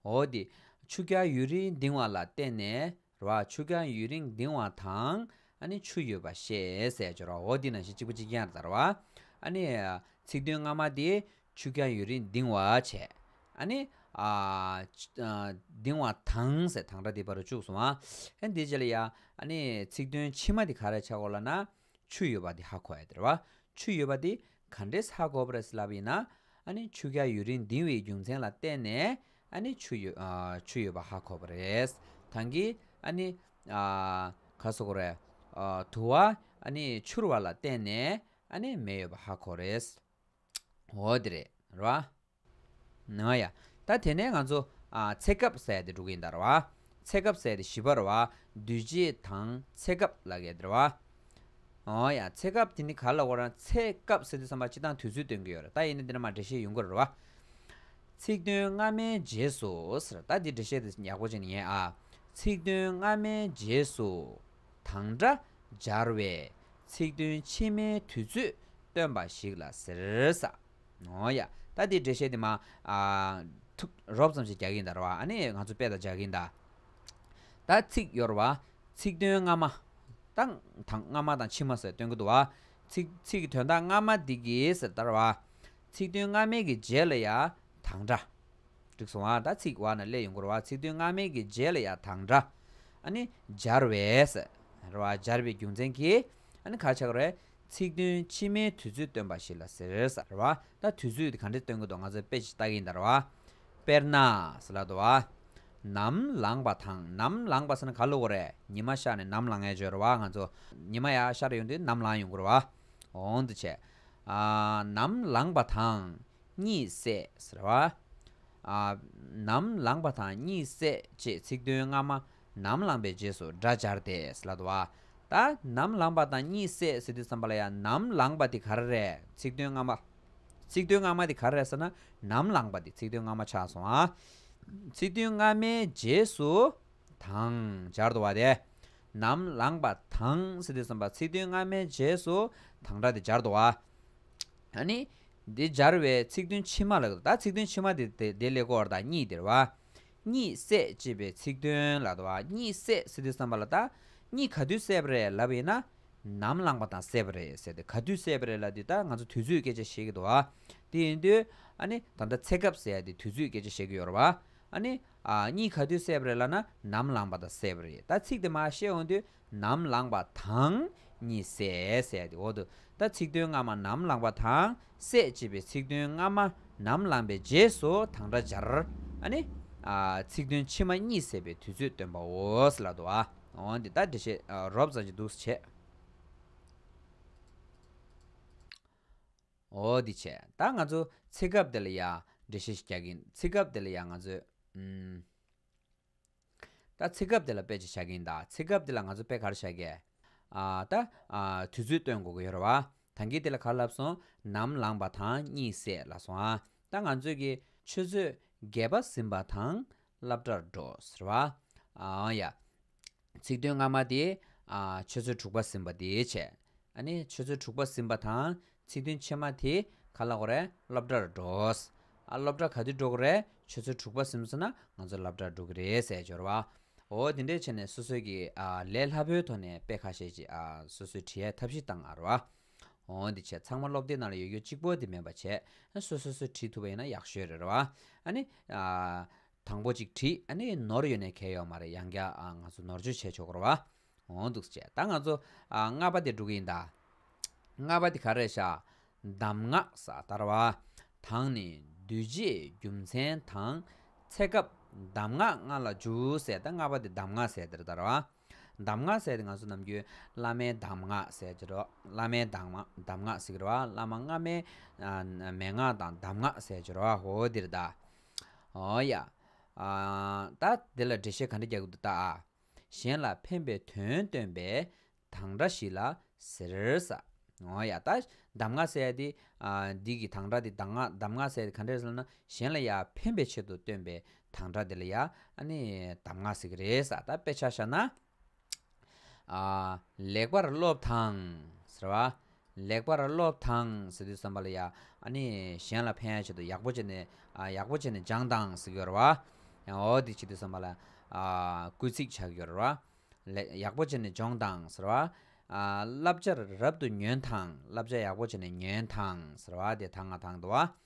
འོ་དེ་ཆུ་རྒྱ་ཡུན་རིང་ལྡིང་བ་ལ་བལྟས་ནས་རེ་བ་ཆུ་རྒྱ་ཡུན་རིང་ལྡིང་བ་དང་ཨ་ནི་ཆུ་ཡོད་པ་ཤེས་ཟེར་རེ་བ་འོ་དེ་ནང་བཞིན་གཅིག་པ་གཅིག་རྐྱང་རེད་ཟེར་རེ་བ། ཨ་ནི་ཚིག་དོན་སྔ་མ་དེ་ཆུ་རྐྱང་ཡུན་རིང་ལྡིང་བར་བྱེད། ཨ་ནི། ལྡིང་བ་དང། ཟེར་དང་སྒྲ་འདི་པར་བཅུག་སོང། ཨ་འདི་ཅི་ལ་ཡ། ཨ་ནི། ཚིག་དོན་ཕྱི་མ་འདི་ག་རེ་ཆག་གོ་ལ་ན། ཆུ་ཡོད་པ་འདི་ཧ་གོ་ཨེ་དེར་བ། ཆུ་ཡོད་པ་འདི་ག་འདྲེས་ཧ་གོ་བར་སླ་བ་ཡིན་ན། ཨ་ནི་ཆུ་རྐྱང་ཡུན་རིང་ལྡིང་བའི་རྒྱུ་མཚན་ལ་བརྟེན་ནས། ཨ་ནི། ཆུ་ཡོད་པ་ཧ་གོ་བ་རེད། དང་གི། ཨ་ནི། ག་སོ་གོ་རེད། དུ་བ། ཨ་ནི། འཕྱུར་བ་ལ་བརྟེན་ནས། ཨ་ནི། མེ་ཡོད་པ་ཧ་གོ་རེད། འོ་དེ་རེད་ར། ཨ་ཡ། ད་དེ་ནས་ང་ཚོ། ཚེ་སྐབས་ཟད་དེ་དྲུག་ཡིན་ད་ར། ཚེ་སྐབས་ཟད་དེ་བཞི་པ་ར། བདུད་རྗེ་དང་ཚེ་སྐབས་ལ་གད་དེ་ར། འོ་ཡ། ཚེ་སྐབས་དེ་ནི་ག་ལ་དབོར་ན་ཚེ་སྐབས་ཟེར་དུས་བསམ་པ་སྤྱི་དང་དུས་ཚོད་སྟོན་གྱི་ཡོད་ར་ད་ཡིན་ན་འདི་ན་མ་འགྲེལ་བཤད་ཡོང་གི་ར། ཚིག་དོན་སྔ་མའི་རྗེས་སུ། ཟེར་ར་ད་འདི་འགྲེལ་བཤད་དེ་ཡག་པོ་བྱས་ནས་ཉན་ཨ། ཚིག་དོན་སྔ་མའི་རྗེས་སུ། དང་སྒྲ་སྦྱར་བས་ཚིག་དོན་ཕྱི་མའི་དུས་ཚོད་སྟོན་པ་ཞིག་ལ་ཟེར། ད་འདིའི་འགྲེལ་བཤད་འདི་མ་ཐུབ། རོབ་ཙམ་ཞིག་རྒྱག་གིན་གདའ། ར་བ་ཨ་ནི་ང་ཚོ་དཔེ་དང་སྦྱར་གིན་གདའ། ད་ཚིག་གཡོར་བ། ཚིག་དོན་སྔ་མ། དང་སྔ་མ་དང་ཕྱི་མ་ཟེར་སྟོན་གི་འདུག་བ། ཚིག་གི་དོན་དག་སྔ་མ་འདི་གིས་ཟེར་ད་ར་བ། ཚིག་དོན་སྔ་མའི་གི་རྗེས་ལ་ཡང་དང་འདྲ། འགྲིག་སོང་ང་ད་ཚིག་བར་ན་སླད་ཡོང་གོ་ར་བ་ཚིག་དོན་སྔ་མའི་གི་རྗེས་ལ་ཡང་དང་འདྲ། ཨ་ནི་སྦྱར་བས། ར་བ་སྦྱར་བའི་རྒྱུ་མཚན་གྱིས་ཨ་ནི་གར་ཆག་གོ་ར་བས་ཚིག་དོན་ཕྱི་མའི་དུས་ཚོད་སྟོན་པ་ཞིག་ལ་ཟེར། ར་བ་ད་དུས་ཚོད་དེ་ག་འདྲས་སྟོན་གི་འདུག་ང་ཚོས་དཔེ་ཅིག་བལྟ་གི་ཡིན་ད་ར་བ། དཔེར་ན། ཟེར་ལ་དུ་བ། ནམ་ལངས་པ་དང་ནམ་ལངས་པ་ཟེར་ན་ག་ལུགས་གོ་ར་ཉི་མ་ཤར་ནས་ནམ་ལངས་ཡས་བརྗོད་ར་བ་ང་ཚོ་ཉི་མ་ཡ་ཤར་ཡོང་དུས་ནམ་ལངས་ཡོང་གོ་ར་བ། འོང་དུ་བྱས། ནམ་ལངས་པ་དང་གཉིད་སད་ཟེར་བ། ནམ་ལངས་པ་དང་གཉིད་སད་ཅེས་ཚིག་དོན་སྔ་མ་ནམ་ལངས་པའི་རྗེས་སུ་སྒྲ་སྦྱར་ཏེ་ལ་དོ། ད་ནམ་ལངས་པ་དང་གཉིད་སད་ཟེར་དུས་བསམ་པ་ལ་ཡང་ནམ་ལངས་པ་དེ་ག་རེ་རེད་ཚིག་དོན་སྔ་མ། ཚིག་དོན་སྔ་མ་དེ་ག་རེ་རེད་ཟེར་ན་ནམ་ལངས་པ་དེ་ཚིག་དོན་སྔ་མ་ཆགས་སོང་ང། ཚིག་དོན་སྔ་མའི་རྗེས་སུ། དང། སྦྱར་དུ་བ་དེ། ནམ་ལངས་པ་དང་སྲིད་དེ་གསུམ་པ་ཚིག་དོན་སྔ་མའི་རྗེས་སུ་དང་སྒྲ་དེ་སྦྱར་དུ་བ། ཨ་ནི། འདི་སྦྱར་བའི་ཚིག་དོན་ཕྱི་མ་ལ། ད་ཚིག་དོན་ཕྱི་མ་དེ་དེ་ལས་གོ་བར་དང་གཉིས་དེར་བ། གཉིད་སད་ཅེས་པའི་ཚིག་དོན་ལ་དུ་བ་གཉིད་སད་སྲིད་དེ་གསུམ་པ་ལ་ད། གཉིད་ག་དུས་སད་པ་རེད་ལབ་པ་ཡིན་ན། ནམ་ལངས་པ་དང་སད་པ་རེད་ཟེར་ཏེ་ག་དུས་སད་པ་རེད་ལབ་དུས་ད་ང་ཚོ་དུས་ཚོད་སྐད་ཆ་བཤད་ཀྱི་འདུག་བ། དེ་ཡིན་དུས། ཨ་ནི། ད་ད་ཚེ་སྐབས་ཟེར་ཏེ་དུས་ཚོད་སྐད་ཆ་བཤད་ཀྱི་ཡོད་རེད་བ། ཨ་ནི། གཉིས་ག་དུས་བསད་པ་རེད་ལ་ན་ནམ་ལངས་པ་དང་བསད་པ་རེད་ད་ཚིག་དེ་མ་བཤད་འོང་དུས་ནམ་ལངས་པ་དང་གཉིས་བསད་བསད་དེ་འོ་དུ་ད་ཚིག་དོན་སྔ་མ་ནམ་ལངས་པ་དང་བསད་ཅེས་པའི་ཚིག་དོན་སྔ་མ་ནམ་ལངས་པའི་རྗེས་སུ་དང་སྒྲ་སྦྱར་ཨ་ནི། ཚིག་དོན་ཕྱི་མ་གཉིས་བསད་པའི་དུས་ཚོད་སྟོན་པའོ་ལ་དུ་ཨ་འོང་དུས་ད་འདྲེ་བཤད་རོབ་ཙམ་གྱི་འདུག་བྱས། འོ་འདི་ཆད་ད་ང་ཚོ་ཚེ་སྐབས་དེ་ལ་ཡ་འདྲེ་ཤེས་རྒྱག་གིན་ཚེ་སྐབས་དེ་ལ་ཡ་ང་ཚོས་ད་ཚེ་སྐབས་དེ་ལ་དཔེ་ཅི་བྱ་གིན་ད་ཚེ་སྐབས་དེ་ལ་ང་ཚོ་དཔེ་ག་རེ་བྱ་གི་ད་དུས་ཚོད་སྟོན་དགོ་གི་ཡོད་རེད་བ་ད་འགི་དེ་ལ་ག་རེ་ལབ་སོང་ནམ་ལངས་པ་དང་གཉིད་སད་ལ་སོང་ཨ་ད་ང་ཚོས་གི་ཆུ་ཚོད་བརྒྱད་པ་ཟིན་པ་དང་སླབ་གྲྭར་འགྲོ་ཟེར་བ་ཨ་ཡ། ཚིག་དོན་སྔ་མ་དེ། ཆོས་ཚུལ་དྲུག་པ་ཟིན་པ་དེའི་ཆེད། ཆོས་ཚུལ་དྲུག་པ་ཟིན་པ་དང་ཚིག་དོན་ཕྱི་མ་དེ་ག་ལ་གོ་རེ་སློབ་གྲྭར་འགྲོའོ། སློབ་གྲྭ་ག་དུས་འགྲོ་གི་རེད་ཆོས་ཚུལ་དྲུག་པ་ཟིན་སོང་ན་ང་ཚོ་སླབ་གྲྭར་འགྲོ་གི་རེད་ཟེར་སྦྱོར་བ། འོ་དེ་འདྲས་བྱས་ནས་སོ་སོའི་གི་ལས་སླ་པོའི་ཐོག་ནས་དཔེ་ཁ་ཤས་ཀྱི་སོ་སོའི་དྲི་ཡའི་ཐབས་ཤེས་བཏང་ཨ་རོ། འོ་འདི་བྱས་ཚང་མ་སློབ་དེབ་ནང་ལ་ཡོད་རྒྱུ་གཅིག་པོ་དེ་མེད་པ་བྱས་སོ་སོ་སོས་བྲིས་ཐུབ་པ་ཡིན་ན་ཡག་ཤོས་རེད་རོ། དང་པོ་ཅིག་བྲིས་ཨ་ནི་ནོར་ཡོད་ནས་གལ་ཡོག་མ་རེད་ཡང་བསྐྱར་ང་ཚོ་ནོར་བཅོས་བྱས་ཆོག་རོགས་ཨ། འོང་འདུག་བྱས་ད་ང་ཚོ་རྔ་པ་དེ་འགྲོ་གི་ཡིན་ད། རྔ་པ་དེ་ག་རེད་ཤག། གདམས་ངག་ས་དར་བ། དང་ནི་བསྡུས་རྗེས་རྒྱུ་མཚན་དང། ཚེ་སྐབས་གདམས་ངག་རྔ་ལ་འཇུ་ཟེར་ད་རྔ་པ་དེ་གདམས་ངག་ཟེར་དེར་དར་བ། གདམས་ངག་ཟེར་ཏེ་ང་ཚོ་ནམ་རྒྱུན་བླ་མའི་གདམས་ངག་ཟེར་གྱི་རོ། བླ་མའི་གདམས་ངག་ཟེར་གྱི་རོ། བླ་མ་སྔ་མའི་མན་ངག་དང་གདམས་ངག་ཟེར་གྱི་རོ། ཧོ་འདིར་བལྟ། ཨོ་ཡ། ད་འདི་ལ་འགྲེལ་བཤད་ག་འདྲ་རྒྱག་གི་འདུག་བལྟ་ཨ། གཞན་ལ་ཕན་པའི་དོན་སྟོན་པའི་དང་སྒྲ་ཞིག་ལ་ཟེར་ས། ཨོ་ཡ། ད་གདམས་ངག་ཟེར་ཏེ། འདི་གི་དང་སྒྲ་འདི་གདམས་ངག་ཟེར་ཏེ་ག་འདྲ་ཟེར་ན། གཞན་ལ་ཡང་ཕན་པའི་ཆེད་དུ་སྟོན་པའི་དང་སྒྲ་དེ་ལ་ཡང་ཨཱ་ནི་གདམས་ངག་ཟེར་གྱི་རེད་ད་དཔེ་ཆ་བཞག་ན། ལེགས་པར་སློབ་དང་ཟེར་བ། ལེགས་པར་སློབ་དང་ཟེར་དུས་བསམ་པ་ལ་ཡང་ཨཱ་ནི་གཞན་ལ་ཕན་ཡག་བྱེད་དུ་ཡག་པོ་བྱས་ནས་ཡག་པོ་བྱས་ནས་སྦྱངས་དང་ཟེར་གྱི་རེད་བ། འོ་དེ་བྱེད་དུས་བསམ་པ་ལ་སྐུལ་ཚིག་བྱ་གི་ཡོད་རེད་བ། ཡག་པོ་བྱས་ནས་སྦྱོངས་དང་ཟེར་བ། བསླབ་བྱར་རབ་ཏུ་ཉོན་དང་བསླབ་བྱ་ཡག་པོ་བྱས་ནས་ཉོན་དང་ཟེར་བ་དེ་དང་ང་དང་འདུ་བ།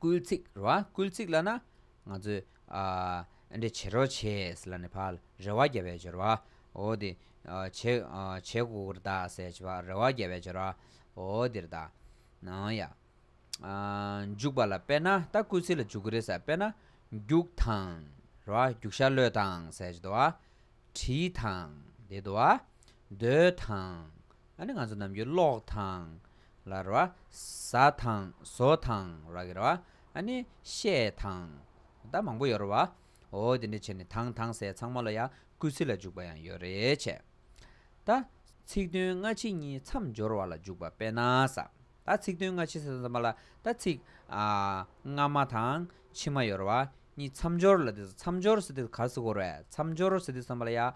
སྐུལ་ཚིག་རེ་བ་སྐུལ་ཚིག་ལ་ན་ང་ཚོས་ཨ་འདྲེ་བྱེད་རོགས་བྱེད་ལ་ནི་བར་རེ་བ་བརྒྱ་བའི་སྦྱོར་བ་འོ་དེ་བྱེད་གུ་གུར་བདག་སེ་བྱེད་བར་རེ་བ་བརྒྱ་བའི་སྦྱོར་བ་འོ་དེར་བདག་ནང་ཡ། འཇུག་པ་ལ་དཔེར་ན་ད་སྐུལ་ཚིག་ལ་འཇུག་གུ་རེ་ཟེར་དཔེར་ན་རྒྱུག་དང་རེ་བ་རྒྱུག་ཤ་ལོས་དང་སེ་བྱེད་བ་བྲིས་དང་དེ་བརྡོལ་དང་ཨ་ནི་ང་ཚོ་ནམ་རྒྱུན་ཀློག་དང་ལ་ར་བ། ཟ་དང་ཟོ་དང་ར་གི་ར་བ། ཨ་ནི་ཤས་དང། ད་མང་པོ་ཡོད་ར་བ། འོ་དེ་འདྲ་བྱས་ནས་དང་དང་ཟས་ཚང་མ་ལ་ཡང་སྐུལ་ཚིག་ལ་འཇུག་པ་ཡང་ཡོད་རེད་བྱས། ད། ཚིག་དོན་སྔ་ཕྱི་གཉིས་མཚམས་སྦྱོར་བ་ལ་འཇུག་པ་དཔེ་ན་ས། ད་ཚིག་དོན་སྔ་ཕྱི་ཟས་ཚང་མ་ལ་ད་ཚིག། སྔ་མ་དང་ཕྱི་མ་ཡོད་ར་བ། གཉིས་མཚམས་སྦྱོར་ལ་དེ་ཚོ་མཚམས་སྦྱོར་ཟེར་དུས་གར་སི་གོ་ར་བས་མཚམས་སྦྱོར་ཟེར་དུས་ཚང་མ་ལ་ཡང།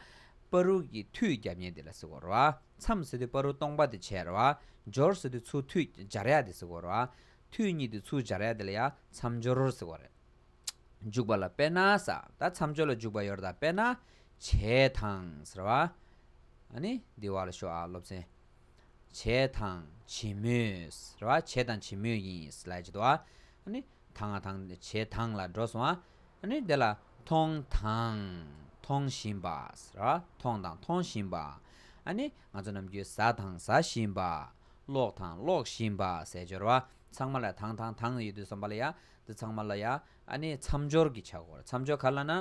པ་རུག་གི་མཐུད་རྒྱབ་ཉེས་དེ་ལ་སི་གོ་ར་བ། མཚམས་ཟེར་དུས་པ་རུ་སྟོང་པ་དེ་བྱས་ར་བ། སྦྱོར་ཟེར་དུས་ཚུར་ཐུད་སྦྱར་ཡ་དེ་ཟེར་བ་ར་བ། ཐུད་གཉིས་དུས་ཚུར་སྦྱར་ཡ་དེ་ལ་ཡ་མཚམས་སྦྱོར་རོར་ཟེར་བ་རེད། འཇུག་པ་ལ་དཔེར་ན་ས་ད་མཚམས་སྦྱོར་ལ་འཇུག་པ་ཡོར་ད་དཔེར་ན། བྱས་དང་ཟེར་བ། ཨཱ་ནི་འདི་བ་ལ་ཤོག་ཨ་སློབ་ཚན། བྱས་དང་བྱེད་མོས་ཟེར་བ་བྱས་དང་བྱེད་མོས་ཡིན། ལ་ཡ་བྱེད་དོ་བ། ཨཱ་ནི། དང་དང། བྱེད་དང་ལ་འགྲོ་སོང་ཨ། ནི་དེ་ལ། མཐོང་དང། མཐོང་བཞིན་པ། མཐོང་དང་མཐོང་བཞིན་པ། ཨ་ནི། ང་ཚོ་ནམ་རྒྱུན་ཟ་དང་ཟ་བཞིན་པ། ཀློག་དང་ཀློག་བཞིན་པ། ཟས་སྦྱོར་བ། ཚང་མ་ལ་དང་དང་དང་ཡོད་དུས་སོང་པ་ལ་ཡ། འདི་ཚང་མ་ལ་ཡ། ཨ་ནི་མཚམས་སྦྱོར་གྱི་ཆ་སྐོར་མཚམས་སྦྱོར་ག་ལ་ན།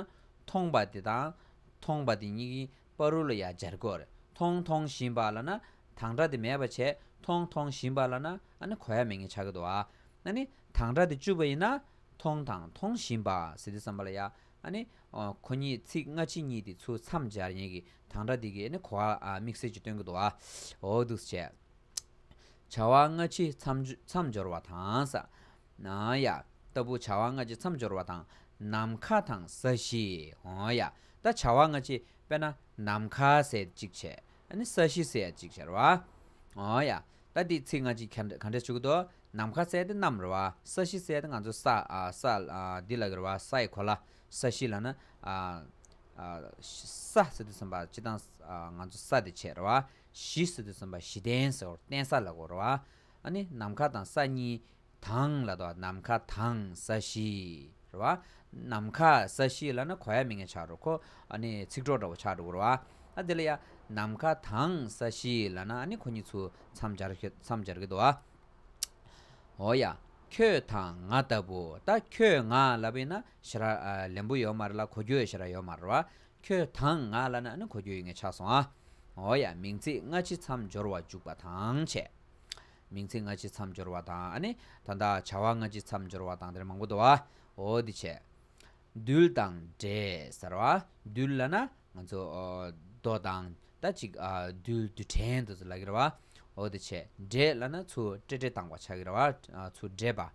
མཐོང་པ་དེ་དང། མཐོང་པ་དེ་གཉིས་ཀྱི་པ་རུ་ལ་ཡ་སྦྱར་དགོས། མཐོང་མཐོང་བཞིན་པ་ལ་ན་དང་སྒྲ་དེ་མེད་པར་བྱས། མཐོང་མཐོང་བཞིན་པ་ལ་ན་ཨ་ནི་གོ་ཡ་མེད་ངེས་བྱ་གི་དོ། ཨ་ནི་དང་སྒྲ་དེ་བཅུ་བ་ཡིན་ན། མཐོང་དང་མཐོང་བཞིན་པ་ཟི་དེ་བསམ་པ་ལ་ཡ། ཨ་ནི་གོ་ཉིད་ཚིག་སྔ་ཕྱི་གཉིས་དེ་ཚུལ་མཚམས་སྦྱར་ཡན་གྱི་དང་སྒྲ་དེ་གིས་ནི་གོ་བ་དམིགས་བསལ་གྱི་སྟོན་གྱི་དོ། འོ་དུས་བྱས། བྱ་བ་སྔ་ཕྱི་མཚམས་སྦྱོར་བ་དང། ན་ཡ། ལྟ་བུ་བྱ་བ་སྔ་ཕྱི་མཚམས་སྦྱོར་བ་དང། ནམ་མཁའ་དང་ས་གཞི། ཨོ་ཡ། ད་བྱ་བ་སྔ་ཕྱི་དཔེར་ན། ནམ་མཁའ་ཟས་གཅིག་བྱས། ནི་ས་གཞི་ཟས་གཅིག་བྱས་རེད་བ། ཨོ་ཡ། ད་འདིས་ཚིག་སྔ་ཕྱི་གང་འདྲ་བྱུག་དོ། ནམ་མཁའ་ཟས་འདི་གནམ་རེད་བ། ས་གཞི་ཟས་འདི་ང་ཚོའི་ས། ས། འདི་ལག་གི་རེད་བ། ས་ཡི་གོ་ལ། ས་གཞི་ལ་ན། ས་ཟེར་དུས་ཟིན་པ་སྤྱི་བཏང། ང་ཚོ་ས་དེ་བྱས་རེད་བ། གཞི་ཟེར་དུས་ཟིན་པ་གཞི་བརྟེན་ཟེར་བ། བརྟེན་ས་ལ་གོ་རེད་བ། ནི་ནམ་མཁའ་དང་ས་གཉིས། དང་ལ་དོ་ནམ་མཁའ་དང་ས་གཞི། རེད་བ། ནམ་མཁའ་ས་གཞི་ལ་ན་གོ་ཡ་མི་ངན་ཆགས་འགྲོ་ཁོ། ཨ་ནི་ཚིག་གྲོགས་འདྲ་བོ་ཆགས་འགྲོ་གོ་རེད་བ། ཨ་དེ་ལ་ཡ། ནམ་མཁའ་དང་ས་གཞི་ལ་ན་ཨ་ནི་ཁོ་གཉིས་ཚུ་མཚམས་སྦྱར་མཚམས་སྦྱར་གི་འདུག་བ། འོ་ཡ། ཁྱོད་དང་ང་ལྟ་བུ་ད་ཁྱོད་ང་ལ་བི་ན་ཞེ་ར་ལེན་པོ་ཡོད་མ་རེད་ལ་གོ་རྒྱུ་ཞེ་ར་ཡོད་མ་རེད་བ། ཁྱོད་དང་ང་ལ་ན་ཨ་ནི་གོ་རྒྱུ་ཡོད་ངེས་ཆགས་སོང་བ། འོ་ཡ་མིང་ཚིག་སྔ་ཕྱི་མཚམས་སྦྱོར་བ་འཇུག་པ་དང་བྱས། མིང་ཚིག་སྔ་ཕྱི་མཚམས་སྦྱོར་བ་དང། ད་ལྟ་བྱ་བ་སྔ་ཕྱི་མཚམས་སྦྱོར་བ་དང་དེར་མང་པོ་འདུ་བའོ། འདི་བྱས། རྡུལ་དང་འདྲེས་ཟེར་བ། རྡུལ་བླ་ན་ང་ཚོ། རྡོ་དང། ད་ཅིག། རྡུལ་རྡུལ་ཕྲན་དུ་ལག་གི་ར་བའོ། འདི་བྱས། འདྲེས་བླ་ན་ཆུ་དཀྲེ་དཀྲེ་དང་བ་ཆག་གི་ར་བ། ཆུ་འདྲེས་པ།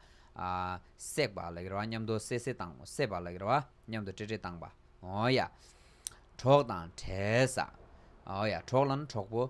བསྲེགས་པ་ལག་གི་ར་བ་མཉམ་དུ་བསྲེ་བསྲེ་དང་བསྲེས་པ་ལག་གི་ར་བ། མཉམ་དུ་དཀྲེ་དཀྲེ་དང་བའོ། གྲོགས་དང་བྲལ་ས། གྲོགས་བླ་ན་གྲོགས་པོ།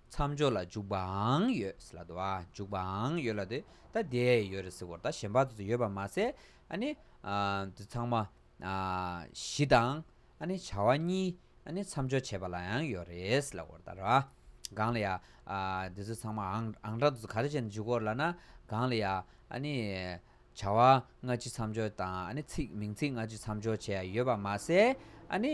མཚམས་སྦྱོར་ལ་འཇུག་པའང་ཡོད་སྲིད་ལ་དུ་བར་འཇུག་པའང་ཡོད་ལ་དེ་ལྟ་དེ་ཡོད་རེད་ཟེར་བར་ད་གཞན་པ་དེ་ཚོ་ཡོད་པར་མ་ཟད་ཨཱ་ནི། འདི་ཚང་མ་གཞི་དང་ཨཱ་ནི་བྱ་བ་གཉིས་ཨཱ་ནི་མཚམས་སྦྱོར་བྱེད་པ་ལའང་ཡོད་རེད་ཟེར་ལ་བར་ད་ར། གང་ལ་ཡ། འདི་ཚོ་ཚང་མ་ཨང་གྲངས་དེ་ཚོ་ག་རེ་བྱས་ནས་འཇུག་གོ་ལ་ན། གང་ལ་ཡ། ཨཱ་ནི། བྱ་བ་སྔ་ཕྱི་མཚམས་སྦྱོར་དང་ཨཱ་ནི་ཚིག་མིང་ཚིག་སྔ་ཕྱི་མཚམས་སྦྱོར་བྱས་ཡོད་པར་མ་ཟད་ཨཱ་ནི།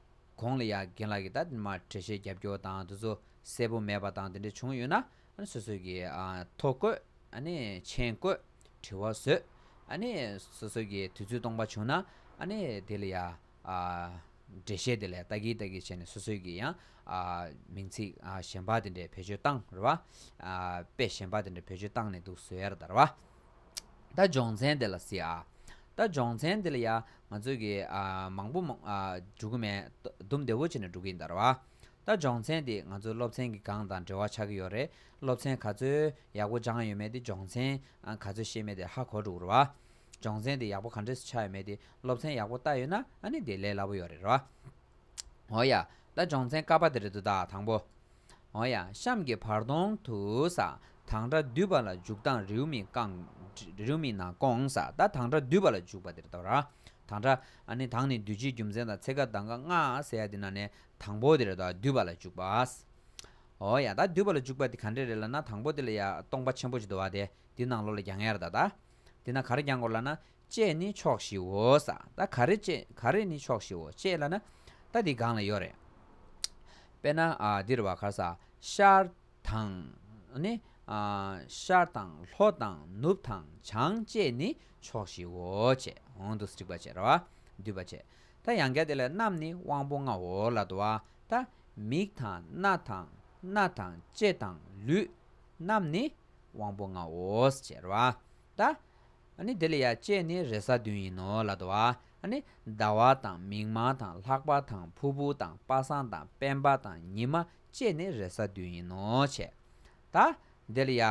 གོང་ལ་ཡ་རྒན་ལགས་ཀྱིས་ད་མར་གྲལ་བཤེར་རྒྱབ་སྐྱོར་དང་དེ་ཚོ་གསལ་པོ་མེད་པ་དང་དེ་འདྲ་བྱུང་ཡོད་ན་སོ་སོས་ཀྱི་ཐོ་བཀོད། མཆན་བཀོད། དྲི་བ་བཟོས། སོ་སོས་ཀྱི་དུས་ཚོད་སྟོང་པ་བྱུང་ན་དེ་ལ་ཡ། གྲལ་བཤེར་དེ་ལས་ལྟ་གིན་ལྟ་གིན་བྱས་ནས་སོ་སོས་ཀྱི་ཡ། མིང་ཚིག་གཞན་པ་དེ་འདྲས་བེད་སྤྱོད་བཏང་ར་བ། དཔེ་གཞན་པ་དེ་འདྲས་བེད་སྤྱོད་བཏང་ནས་འདུག་བཟོས་ཡ་ར་དར་བ། ད་སྦྱོང་ཚན་དེ་ལ་སི་ཨ། ད་སྦྱོང་ཚན་དེ་ལ་ཡ། ང་ཚོས་ཀྱི་མང་པོ་འགྲུལ་གྱི་མེད། ལྡུམ་བདེ་བོ་བྱས་ནས་འགྲོ་གི་ཡིན་ད་ར་བ། ད་སྦྱོང་ཚན་དེ་ང་ཚོའི་སློབ་ཚན་གྱི་སྒང་དང་འབྲེལ་བ་ཆགས་ཀྱི་ཡོད་རེད་སློབ་ཚན་ག་ཚོད་ཡག་པོ་སྦྱངས་ཡོད་མེད་དེ་སྦྱོང་ཚན་ག་ཚོད་ཤེས་མེད་དེ་ཧ་གོ་འགྲོ་གི་རེད་བ། སྦྱོང་ཚན་དེ་ཡག་པོ་ག་འདྲས་སུ་ཆགས་ཡོད་མེད་དེ་སློབ་ཚན་ཡག་པོ་བལྟ་ཡོད་ན་ཨ་ནི་དེ་ལས་སླ་པོ་ཡོད་རེད་བ། འོ་ཡ། ད་སྦྱོང་ཚན་ཀ་པ་དེ་རེད་འདུག་ད་དང་པོ། འོང་ཡང་གཤམ་གྱི་བར་སྟོང་དུ་ས་དང་སྒྲ་སྡུད་པ་ལ་འཇུག་སྟངས་རེའུ་མིག་རྐང་རེའུ་མིག་ནང་སྐོང་ས་དང་དང་སྒྲ་སྡུད་པ་ལ་འཇུག་པ་དེར་ལྟ་བ། དང་སྒྲ། ནི་དང་ནི་སྡུད་བྱེད་རྒྱུ་མཚན་དང་ཚེག་ཀ་དང་ཀ་ལྔ་ཟེར་ཡ་དེ་ནང་ནས་དང་པོ་དེར་སྡུད་པ་ལ་འཇུག་པ། འོང་ཡང་སྡུད་པ་ལ་འཇུག་པ་དེ་ག་འདྲས་རེད་ལ་ན་དང་པོ་དེ་ལ་ཡང་སྟོང་པ་ཆེན་པོ་ཅིག་འདུ་བ་དེ་དེ་ནང་ལོགས་ལ་རྒྱང་ཡར་ལྟ། དེ་ནང་གར་རྒྱང་དགོས་ལ་ན་ཅེས་ནི་ཕྱོགས་བཞིའོ། ས་ད་ག་རེ་ཅེས་ག་རེ་ནི་ཕྱོགས་བཞིའོ་ཅེས་ལ་ན། ད་འདི་གང་ལ་ཡོད་རེད། དཔེར་ན་འདིར་བ་གར་ས་ཤར་དང། ནི། ཤར་དང་ལྷོ་དང་ནུབ་དང་བྱང་ཅེས་ནི་ཕྱོགས་བཞིའོ་ཅེས་འོང་དུ་སྤྱི་བ་ཅེས་ར་བ་སྡུད་པ་བྱེད། ད་ཡང་སྐད་དེ་ལས་རྣམས་ནི་དབང་པོ་ལྔའོ་ལ་དུ་བ་ད། མིག་དང་སྣ་དང་སྣ་དང་ལྕེ་དང་ལུས་རྣམས་ནི་དབང་པོ་ལྔའོ་ཞེས་ར་བ་ད། ནི་དེ་ལ་ཡ་བཅས་ནི་རེ་ས་བདུན་ཡིན་ནོ་ལ་དོ། ནི་ཟླ་བ་དང་མིག་མང་དང་ལྷག་པ་དང་ཕུར་བུ་དང་པ་སངས་དང་དཔལ་འབར་དང་ཉི་མ་བཅས་ནི་རེ་ས་བདུན་ཡིན་ནོ་བྱས། ད་དེ་ལ་ཡ།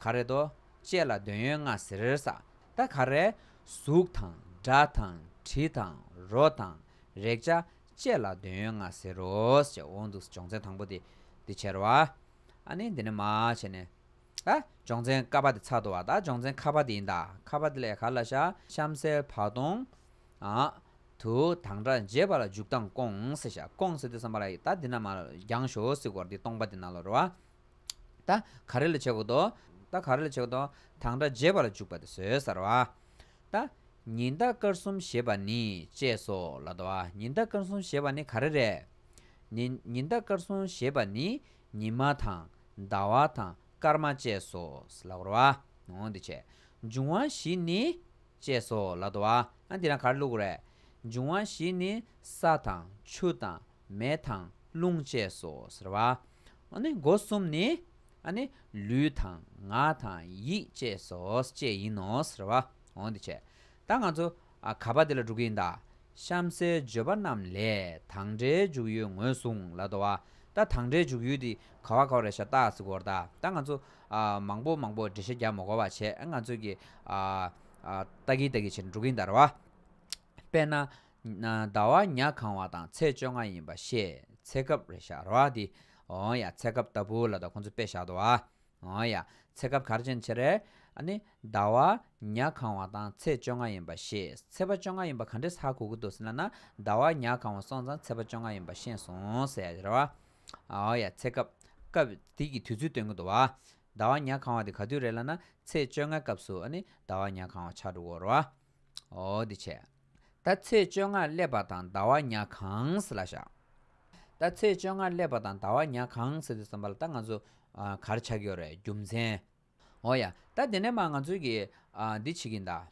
ག་རེ་དོ། བཅས་ལ་འདོད་ཡོན་ལྔ་ཟེར་ས། ད་ག་རེ། གཟུགས་དང་སྒྲ་དང་དྲི་དང་རོ་དང་རེག་བྱ་བཅས་ལ་འདོད་ཡོན་ལྔ་ཟེར་རོ། ཞེས་འོང་འདུག་སྦྱོང་ཚན་དང་པོ་འདི་འདི་བྱེར་བ། ནི་འདི་ནི་མ་བྱས་ནས། སྦྱོང་ཚན་ཀ་པ་དེ་ཚ་དོ་བ་དང་སྦྱོང་ཚན་ཁ་པ་དེ་ཡིན་ད་ཁ་པ་དེ་ལས་ག་ལ་ཤ་གཤམ་གསལ་བར་སྟོང། དུ་དང་སྒྲ་འཇལ་བ་ལ་འཇུག་སྟངས་སྐོངས་སེ་ཤ་སྐོངས་སེ་དེ་བསམ་པ་ལ་ད་དེ་ན་མ་རྒྱང་ཞོ་སི་གོར་དེ་སྟོང་པ་དེ་ན་ལོ་རོ་བ། ད་ག་རེ་ལ་བྱེད་གོ་དོ། ད་ག་རེ་ལ་བྱེད་གོ་དོ་དང་སྒྲ་འཇལ་བ་ལ་འཇུག་པ་དེ་ཟོས་སར་བ། ད་ཉི་ཟླ་སྐར་གསུམ་ཞེས་པ་ནི་བཅས་སོ་ལ་དོ་བ་ཉི་ཟླ་སྐར་གསུམ་ཞེས་པ་ནི་ག་རེ་རེད། ནི་ཉི་ཟླ་སྐར་གསུམ་ཞེས་པ་ནི་ཉི་མ་དང་ཟླ་བ་དང་སྐར་མ་བཅས་སོ། ལག་རོ་ཨ། འོང་འདི་བྱས། འབྱུང་བ་བཞི་ནི། ཅེས་སོ། ལ་དོ་ཨ། ཨ་འདི་རང་གར་བླུག་རེ། འབྱུང་བ་བཞི་ནི། ས་དང་ཆུ་དང་མེ་དང་རླུང་བཅས་སོ། ཟེར་བ་ཨ། འོ་ནི་སྒོ་གསུམ་ནི། ཨ་ནི། ལུས་དང་ངག་དང་ཡིད་བཅས་སོ། བཅས་ཡིན་ནོ། ཟེར་བ་ཨ། འོང་འདི་བྱས། ད་ང་ཚོ་ག་པ་འདི་ལ་འགྲོ་གི་ཡིན་ད། གཤམ་གསལ་བརྗོད་པ་རྣམས་ལས་དང་འབྲེལ་འཇུག་ཡུལ་ངོས་བཟུང་ལ་དོ། ད་དང་འབྲེལ་འཇུག་ཡུལ་འདི་ག་བ་ག་བ་རེད་ཤ་སྟག་གཟིགས་གོ་ད་ང་ཚོ་མང་པོ་མང་པོ་འབྲེལ་བཤད་རྒྱག་མ་གོ་བ་བྱས་ང་ཚོས་ཀྱི་ལྟ་གི་ལྟ་གི་བྱས་ནས་འགྲོ་གི་ཡིན་ད་རེད་བ། དཔེར་ན། ཟླ་བ་ཉག་གང་བ་དང་ཚེས་བཅོ་ལྔ་ཡིན་པ་ཤེས་ཚེ་སྐབས་རེད་ཤ་རེད་བ་འདི། འོ་ཡ་ཚེ་སྐབས་ལྟ་བུ་ལ་དོ་ཁོང་ཚོ་དཔེ་བཞག་དོ། ཨ་ཡ། ཚེ་སྐབས་གར་ཆེན་ཆེ། རེ། ཨ་ནི། ཟླ་བ། ཉག་གང་བ་དང་ཚེས་བཅོ་ལྔ་ཡིན་པ་ཤེས། ཚེས་པ་བཅོ་ལྔ་ཡིན་པ་ག་འདྲས་ཧ་གོ་གི་འདུག་ཟེར་ན་ན། ཟླ་བ། ཉག་གང་བ་སོང་ཙང་ཚེས་པ་བཅོ་ལྔ་ཡིན་པ་ཤེས་སོང་ཟེར། རེ་བ། ཨ་ཡ། ཚེ་སྐབས། སྐབས། དེ་གི་དུས་ཚོད་སྟོན་གི་འདུག་བ། ཟླ་བ། ཉག་གང་བ་དེ་ག་དུས་རེད་ལ་ན། ཚེས་བཅོ་ལྔ་སྐབས་སུ་ཨ་ནི། ཟླ་བ། ཉག་གང་བ་ཆགས་འདུག་གོ། རེ་བ། འོ་དེ་བྱས། ད་ཚེས་བཅོ་ལྔར་སླེབས་པ་དང་ཟླ་བ་ཉག་གང་སྲིད་ལ་བཞག། ད་ཚེས་བཅོ་ལྔར་སླེབས་པ་དང་ཟླ་བ་ཉག་གང་སྲིད་དུ་བསམ་པ་ལ་ད་ང་ཚོ་གར་ཆགས་ཀྱི་ཡོད་རེད་རྒྱུ་མཚན། འོ་ཡ། ད་དེ་ནས་མ་ང་ཚོས་ཀྱིས་འདི་བྱེད་ཀྱིན་གདའ།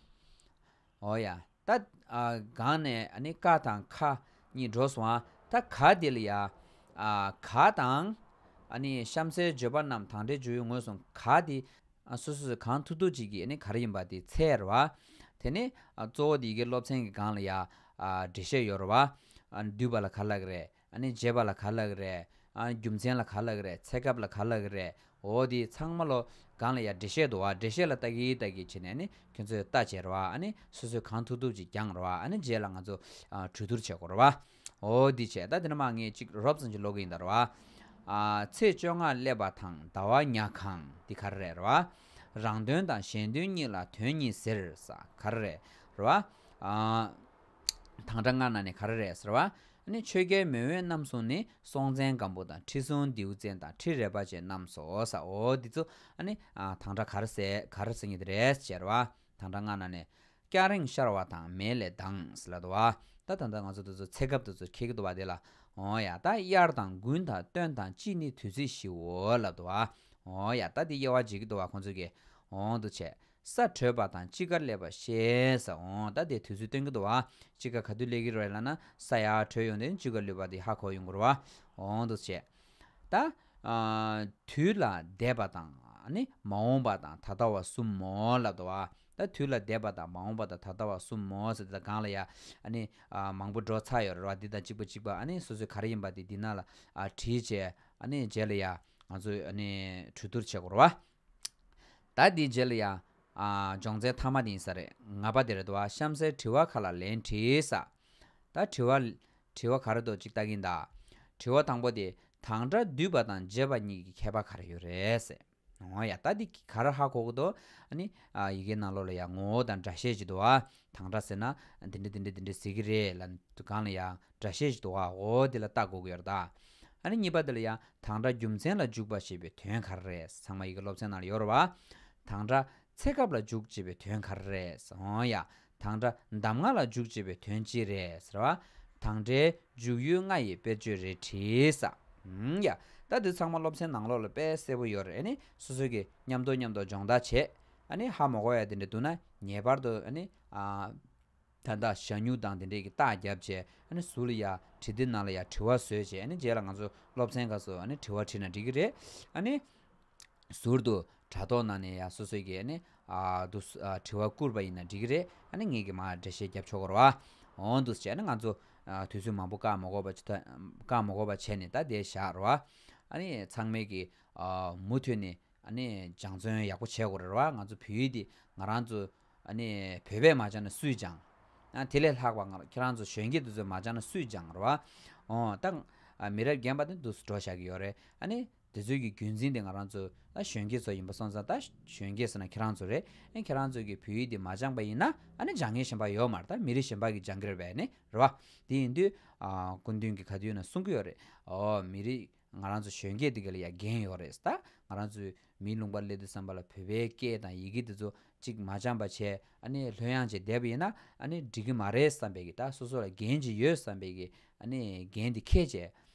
འོ་ཡ། ད་སྒང་ནས་ནི་ཀ་དང་ཁ་གཉིས་འགྲོ་སོང་ཨ། ད་ག་དེ་ལ་ཡ། ག་དང། གཤམ་གསལ་བརྗོད་པ་རྣམས་དང་འབྲེལ་བརྗོད་ཡུལ་ངོས་སུ་ག་དེ། ཨ་སོ་སོ་སོས་གང་ཐུག་ཐུག་ཅིག་གིས་ག་རེ་ཡིན་པ་དེ་འཚལ་རོ། དེ་ནས་གཙོ་བོ་དེ་ཡི་གེ་སློབ་ཚན་གྱི་སྒང་ལ་ཡང་འགྲེལ་བཤད་ཡོད་རོ། བསྡུས་པ་ལ་ག་ལ་གི་རེད། འབྱེད་པ་ལ་ག་ལ་གི་རེད། རྒྱུ་མཚན་ལ་ག་ལ་གི་རེད་ཚད་སྐབས་ལ་ག་ལ་གི་རེད། འོ་དེ་ཚང་མ་ལོ། སྒང་ལ་ཡང་འགྲེལ་བཤད་འདུག་འགྲེལ་བཤད་ལ་ལྟ་གི་ལྟ་གི་བྱས་ནས་ཁྱོད་ཚོས་ལྟ་བྱེད་རོ། སོ་སོས་གང་ཐུག་ཐུག་ཅིག་བསྐྱངས་རོ། རྗེས་ལ་ང་ཚོ་གྲོས་བསྡུར་བྱེད་དགོས་རོ། འོ་འདི་བྱས་ད་དེ་ནས་མ་ངེས་གཅིག་རོབ་ཙང་གཅིག་ལོ་གིན་དར་བ། ཚེས་བཅོ་ལྔ་སླེབས་པ་དང་ཟླ་བ་ཉག་གང་འདི་གར་རེད་ར་བ། རང་དོན་དང་གཞན་དོན་གཉིས་ལ་དོན་གཉིས་ཟེར་ས་གར་རེད་ར་བ། དང་དྲ་སྔ་ན་ནས་གར་རེད་ཟེར་བ། ནི་ཆོས་རྒྱལ་མེས་དབོན་རྣམ་གསུམ་ནི་སྲོང་བཙན་སྒམ་པོ་དང་ཁྲི་སྲོང་ལྡེའུ་བཙན་དང་ཁྲི་རལ་པ་བཅས་རྣམས་སོ་ཟ་འོ་འདི་ཚོ། ནི་དང་དྲ་གར་གར་ཟེར་ངེས་དེ་རེད་ཟེར་བ། དང་སྦྲགས་སྔ་ན་ནས། སྐྱ་རེངས་ཤར་བ་དང་མལ་ལས་ལྡངས། ལ་དུ་བ། ད་ད་ད་ང་ཚོ་དུ་ཚོད་ཚད་སྐབས་དུ་ཚོད་ཁེག་དུ་བ་དེ་ལ། ཨོ་ཡ་ད་དབྱར་དང་དགུན་དང་སྟོན་དང་དཔྱིད་ནི་དུས་ཚོད་བཞིའོ། ལ་དུ་བ། ཨོ་ཡ་ད་དེ་དབྱེ་བ་འབྱེད་ཀྱི་དུ་བ་ཁོང་ཚོས་ཀྱི། འོང་དུ་བྱས། ས་དྲོས་པ་དང་དཔྱིད་ཀར་སླེབས་པ་ཤེས། ཨོ་ད་དེ་དུས་ཚོད་སྟོན་ཀྱི་དུ་བ། དཔྱིད་ཀ་ག་དུས་སླེབས་ཀྱི་རེད་ལ་ན། ས་ཡར་དྲོས་ཡོང་དུས་དཔྱིད་ཀ་ལུས་པ་དེ་ཧ་གོ་ཡོང་གི་རུ་བ། འོང་དུ་བྱས། ད། དུས་ལ་འདས་པ་དང། ནི་མ་འོངས་པ་དང་ད་ལྟ་བ་གསུམ་མོ། ལ་དོ། ད་དུས་ལ་འདས་པ་དང་མ་འོངས་པ་དང་ད་ལྟ་བ་གསུམ་མོ། ཟེར་དེ་དང་གང་ལ་ཡ། ནི། མང་པོ་འགྲོ་ཚར་ཡོད་རེད་བ་འདི་དང་གཅིག་པ་གཅིག་པ། ནི་སོ་སོའི་ག་རེ་ཡིན་པ་དེ་འདི་ན་ལ། བྲིས་བྱས། ནི་རྗེས་ལ་ཡ། ང་ཚོ། ནི། གྲོས་བསྡུར་བྱེད་དགོས་རེད་བ། ད་དེའི་རྗེས་ལ་ཡ། སྦྱོང་ཚན་མཐའ་མ་དེ་ཡིན་ས་རེད། ང་པ་དེ་རེད་དོ་བ་གཤམ་གསལ་དྲི་བ་ཁག་ལ་ལན་བྲིས་ས། ད་དྲི་བ། དྲི་བ་ག་རེ་འདུག་ཅིག་བལྟ་གིན་གདའ། དྲི་བ་དང་པོ་དེ་དང་སྒྲ་སྡུད་པ་དང་འབྱེད་པ་གཉིས་ཀྱི་ཁྱད་པར་ག་རེ་ཡོད་རེད། ཨོ་ཡ་ད་འདི་ག་རེ་ཧ་གོ་གི་འདུག་ཨཱ་ནི། ཡི་གེའི་ནང་ལོགས་ལ་ཡང་ངོ་བོ་དང་སྒྲ་བཤད་ཅིག་འདུག་ཨ། དང་སྒྲ་ཟེར་ན་འདི་འདྲ་འདི་འདྲ་འདི་འདྲ་ཟེར་གྱི་རེད་ལ། གང་ལ་ཡང་སྒྲ་བཤད་ཅིག་འདུག་ཨ་ཨོ་འདི་ལ་ལྟ་དགོས་ཀྱི་ཡོད་རེད་གདའ། ཨཱ་ནི་གཉིས་པ་འདི་ལ་ཡང་དང་སྒྲ་རྒྱུ་མཚན་ལ་འཇུག་པ་ཞེས་པའི་དོན་ག་རེ་རེད་ཚང་མ་ཡི་གེ་སློབ་ཚན་ནང་ལ་ཡོད་རེད་བ། དང་སྒྲ་ཚེ་སྐབས་ལ་འཇུག་ཅེས་པའི་དོན་ག་རེ་རེད། ཨོ་ཡ། དང་སྒྲ་གདམས་ང་ལ་འཇུག་ཅེས་པའི་དོན་ཅི་རེད་ཟེར་བ་དང་འདྲའི་འཇུག་ཡུལ་ལྔ་ཡི་དཔེར་བརྗོད་རེ་བྲིས། ཨང། ཡ། ད་འདི་ཚང་མ་སློབ་ཚན་ནང་ལོག་ལ་དཔེ་གསལ་པོ་ཡོད་རེད། སོ་སོ་གི་མཉམ་དོ་མཉམ་དོ་སྦྱོང་བརྡར་བྱེད། ཧ་མོ་གོ་ཡ་དེ་འདྲ་འདུག་ན་ངེས་པར་དུ། ད་ལྟ་ཞྭ་སྨྱུག་དང་དེ་འདྲས་ཀྱི་རྟགས་བརྒྱབ་རྗེས་ཟུར་ལ་ཡ་བྲིས་ཏེ་ནང་ལ་ཡ་བྲི་བ་བཟོས་རྗེས་རྗེས་ལ་ང་ཚོ་སློབ་ཚན་ཁག་སུ་དྲི་བ་བྲིས་ན་འགྲིག་གི་རེད། ཟུར་དུ། དྲ་ཐོག་ནང་ནས་ཡང་སོ་སོས་ཀྱི་ནི། འདུག། དྲི་བ་བསྐུར་བ་ཡིན་ན་འགྲིག་གི་རེད། ཨ་ནི་ངེད་ཀྱི་མ་འདྲ་བཤད་རྒྱབ་ཆོག་གོ་རོ། འོང་འདུག་བྱས་ན་ང་ཚོ། དུས་ཚོད་མང་པོ་བཀག་མ་གོ་བ། བཀག་མ་གོ་བ་བྱས་ནས་ད་དེ་བཞག་རོ། ཨ་ནི་ཚང་མས་ཀྱི། མུ་མཐུད་ནས། ཨ་ནི་སྦྱང་བརྩོན་ཡག་པོ་བྱས་གོ་རེ་རོ། ང་ཚོ་བོད་ཡིག་འདི་ང་རང་ཚོ། ཨ་ནི་བོད་པས་མ་སྦྱང་ན་སུས་སྦྱང། དེ་ལས་ལྷག་པ་ཁྱེད་རང་ཚོ་གཞོན་སྐྱེས་དེ་ཚོས་མ་སྦྱང་ན་སུས་སྦྱང་རོ། ད། མི་རབས་རྒན་པ་དེ་འདུག་འགྲོ་བཞག་གི་ཡོད་རེད། ཨ་ནི། དེ་ཚོའི་གི་རྒྱུན་འཛིན་དེ་ང་རང་ཚོ་ཨ་གཞོན་སྐྱེས་ཚོ་ཡིན་པ་སོང་ཙང་ད་གཞོན་སྐྱེས་ཟེར་ན་ཁྱེད་རང་ཚོ་རེད་ཨེ་ཁྱེད་རང་ཚོས་གི་བོད་ཡིག་འདི་མ་སྦྱངས་པ་ཡིན་ན་ཨ་ནི་སྦྱངས་མཁན་གཞན་པ་ཡོད་མ་རེད་ད་མི་རིགས་གཞན་པ་གི་སྦྱངས་གི་རེད་བས་ནི་རེད་བ། དེ་ཡིན་དུས་ཨ་སྐུ་མདུན་གི་ག་དུས་ན་གསུང་གི་ཡོད་རེད་ཨོ་མི་རིགས་ང་རང་ཚོ་གཞོན་སྐྱེས་དེ་གི་ལ་ཡ་རྒན་ཡོད་རེད་ད་ང་རང་ཚོས་མིའི་ལུང་པ་གླེ་དུ་བསམ་པ་ལ་བོད་པའི་སྐད་དང་ཡི་གེ་དེ་ཚོ་གཅིག་མ་སྦྱངས་པ་བྱས་ཨ་ནི་ལྷོད་ཡངས་བྱས་བསྡད་པ་ཡིན་ན་ཨ་ནི་འགྲིག་གི་མ་རེད་བསམ་པས་གི་ད་སོ་སོ་ལ་རྒན་གཅིག་ཡོད་བསམ་པས་གི་ཨ་ནི་རྒན་དེ་ཁས་བཅད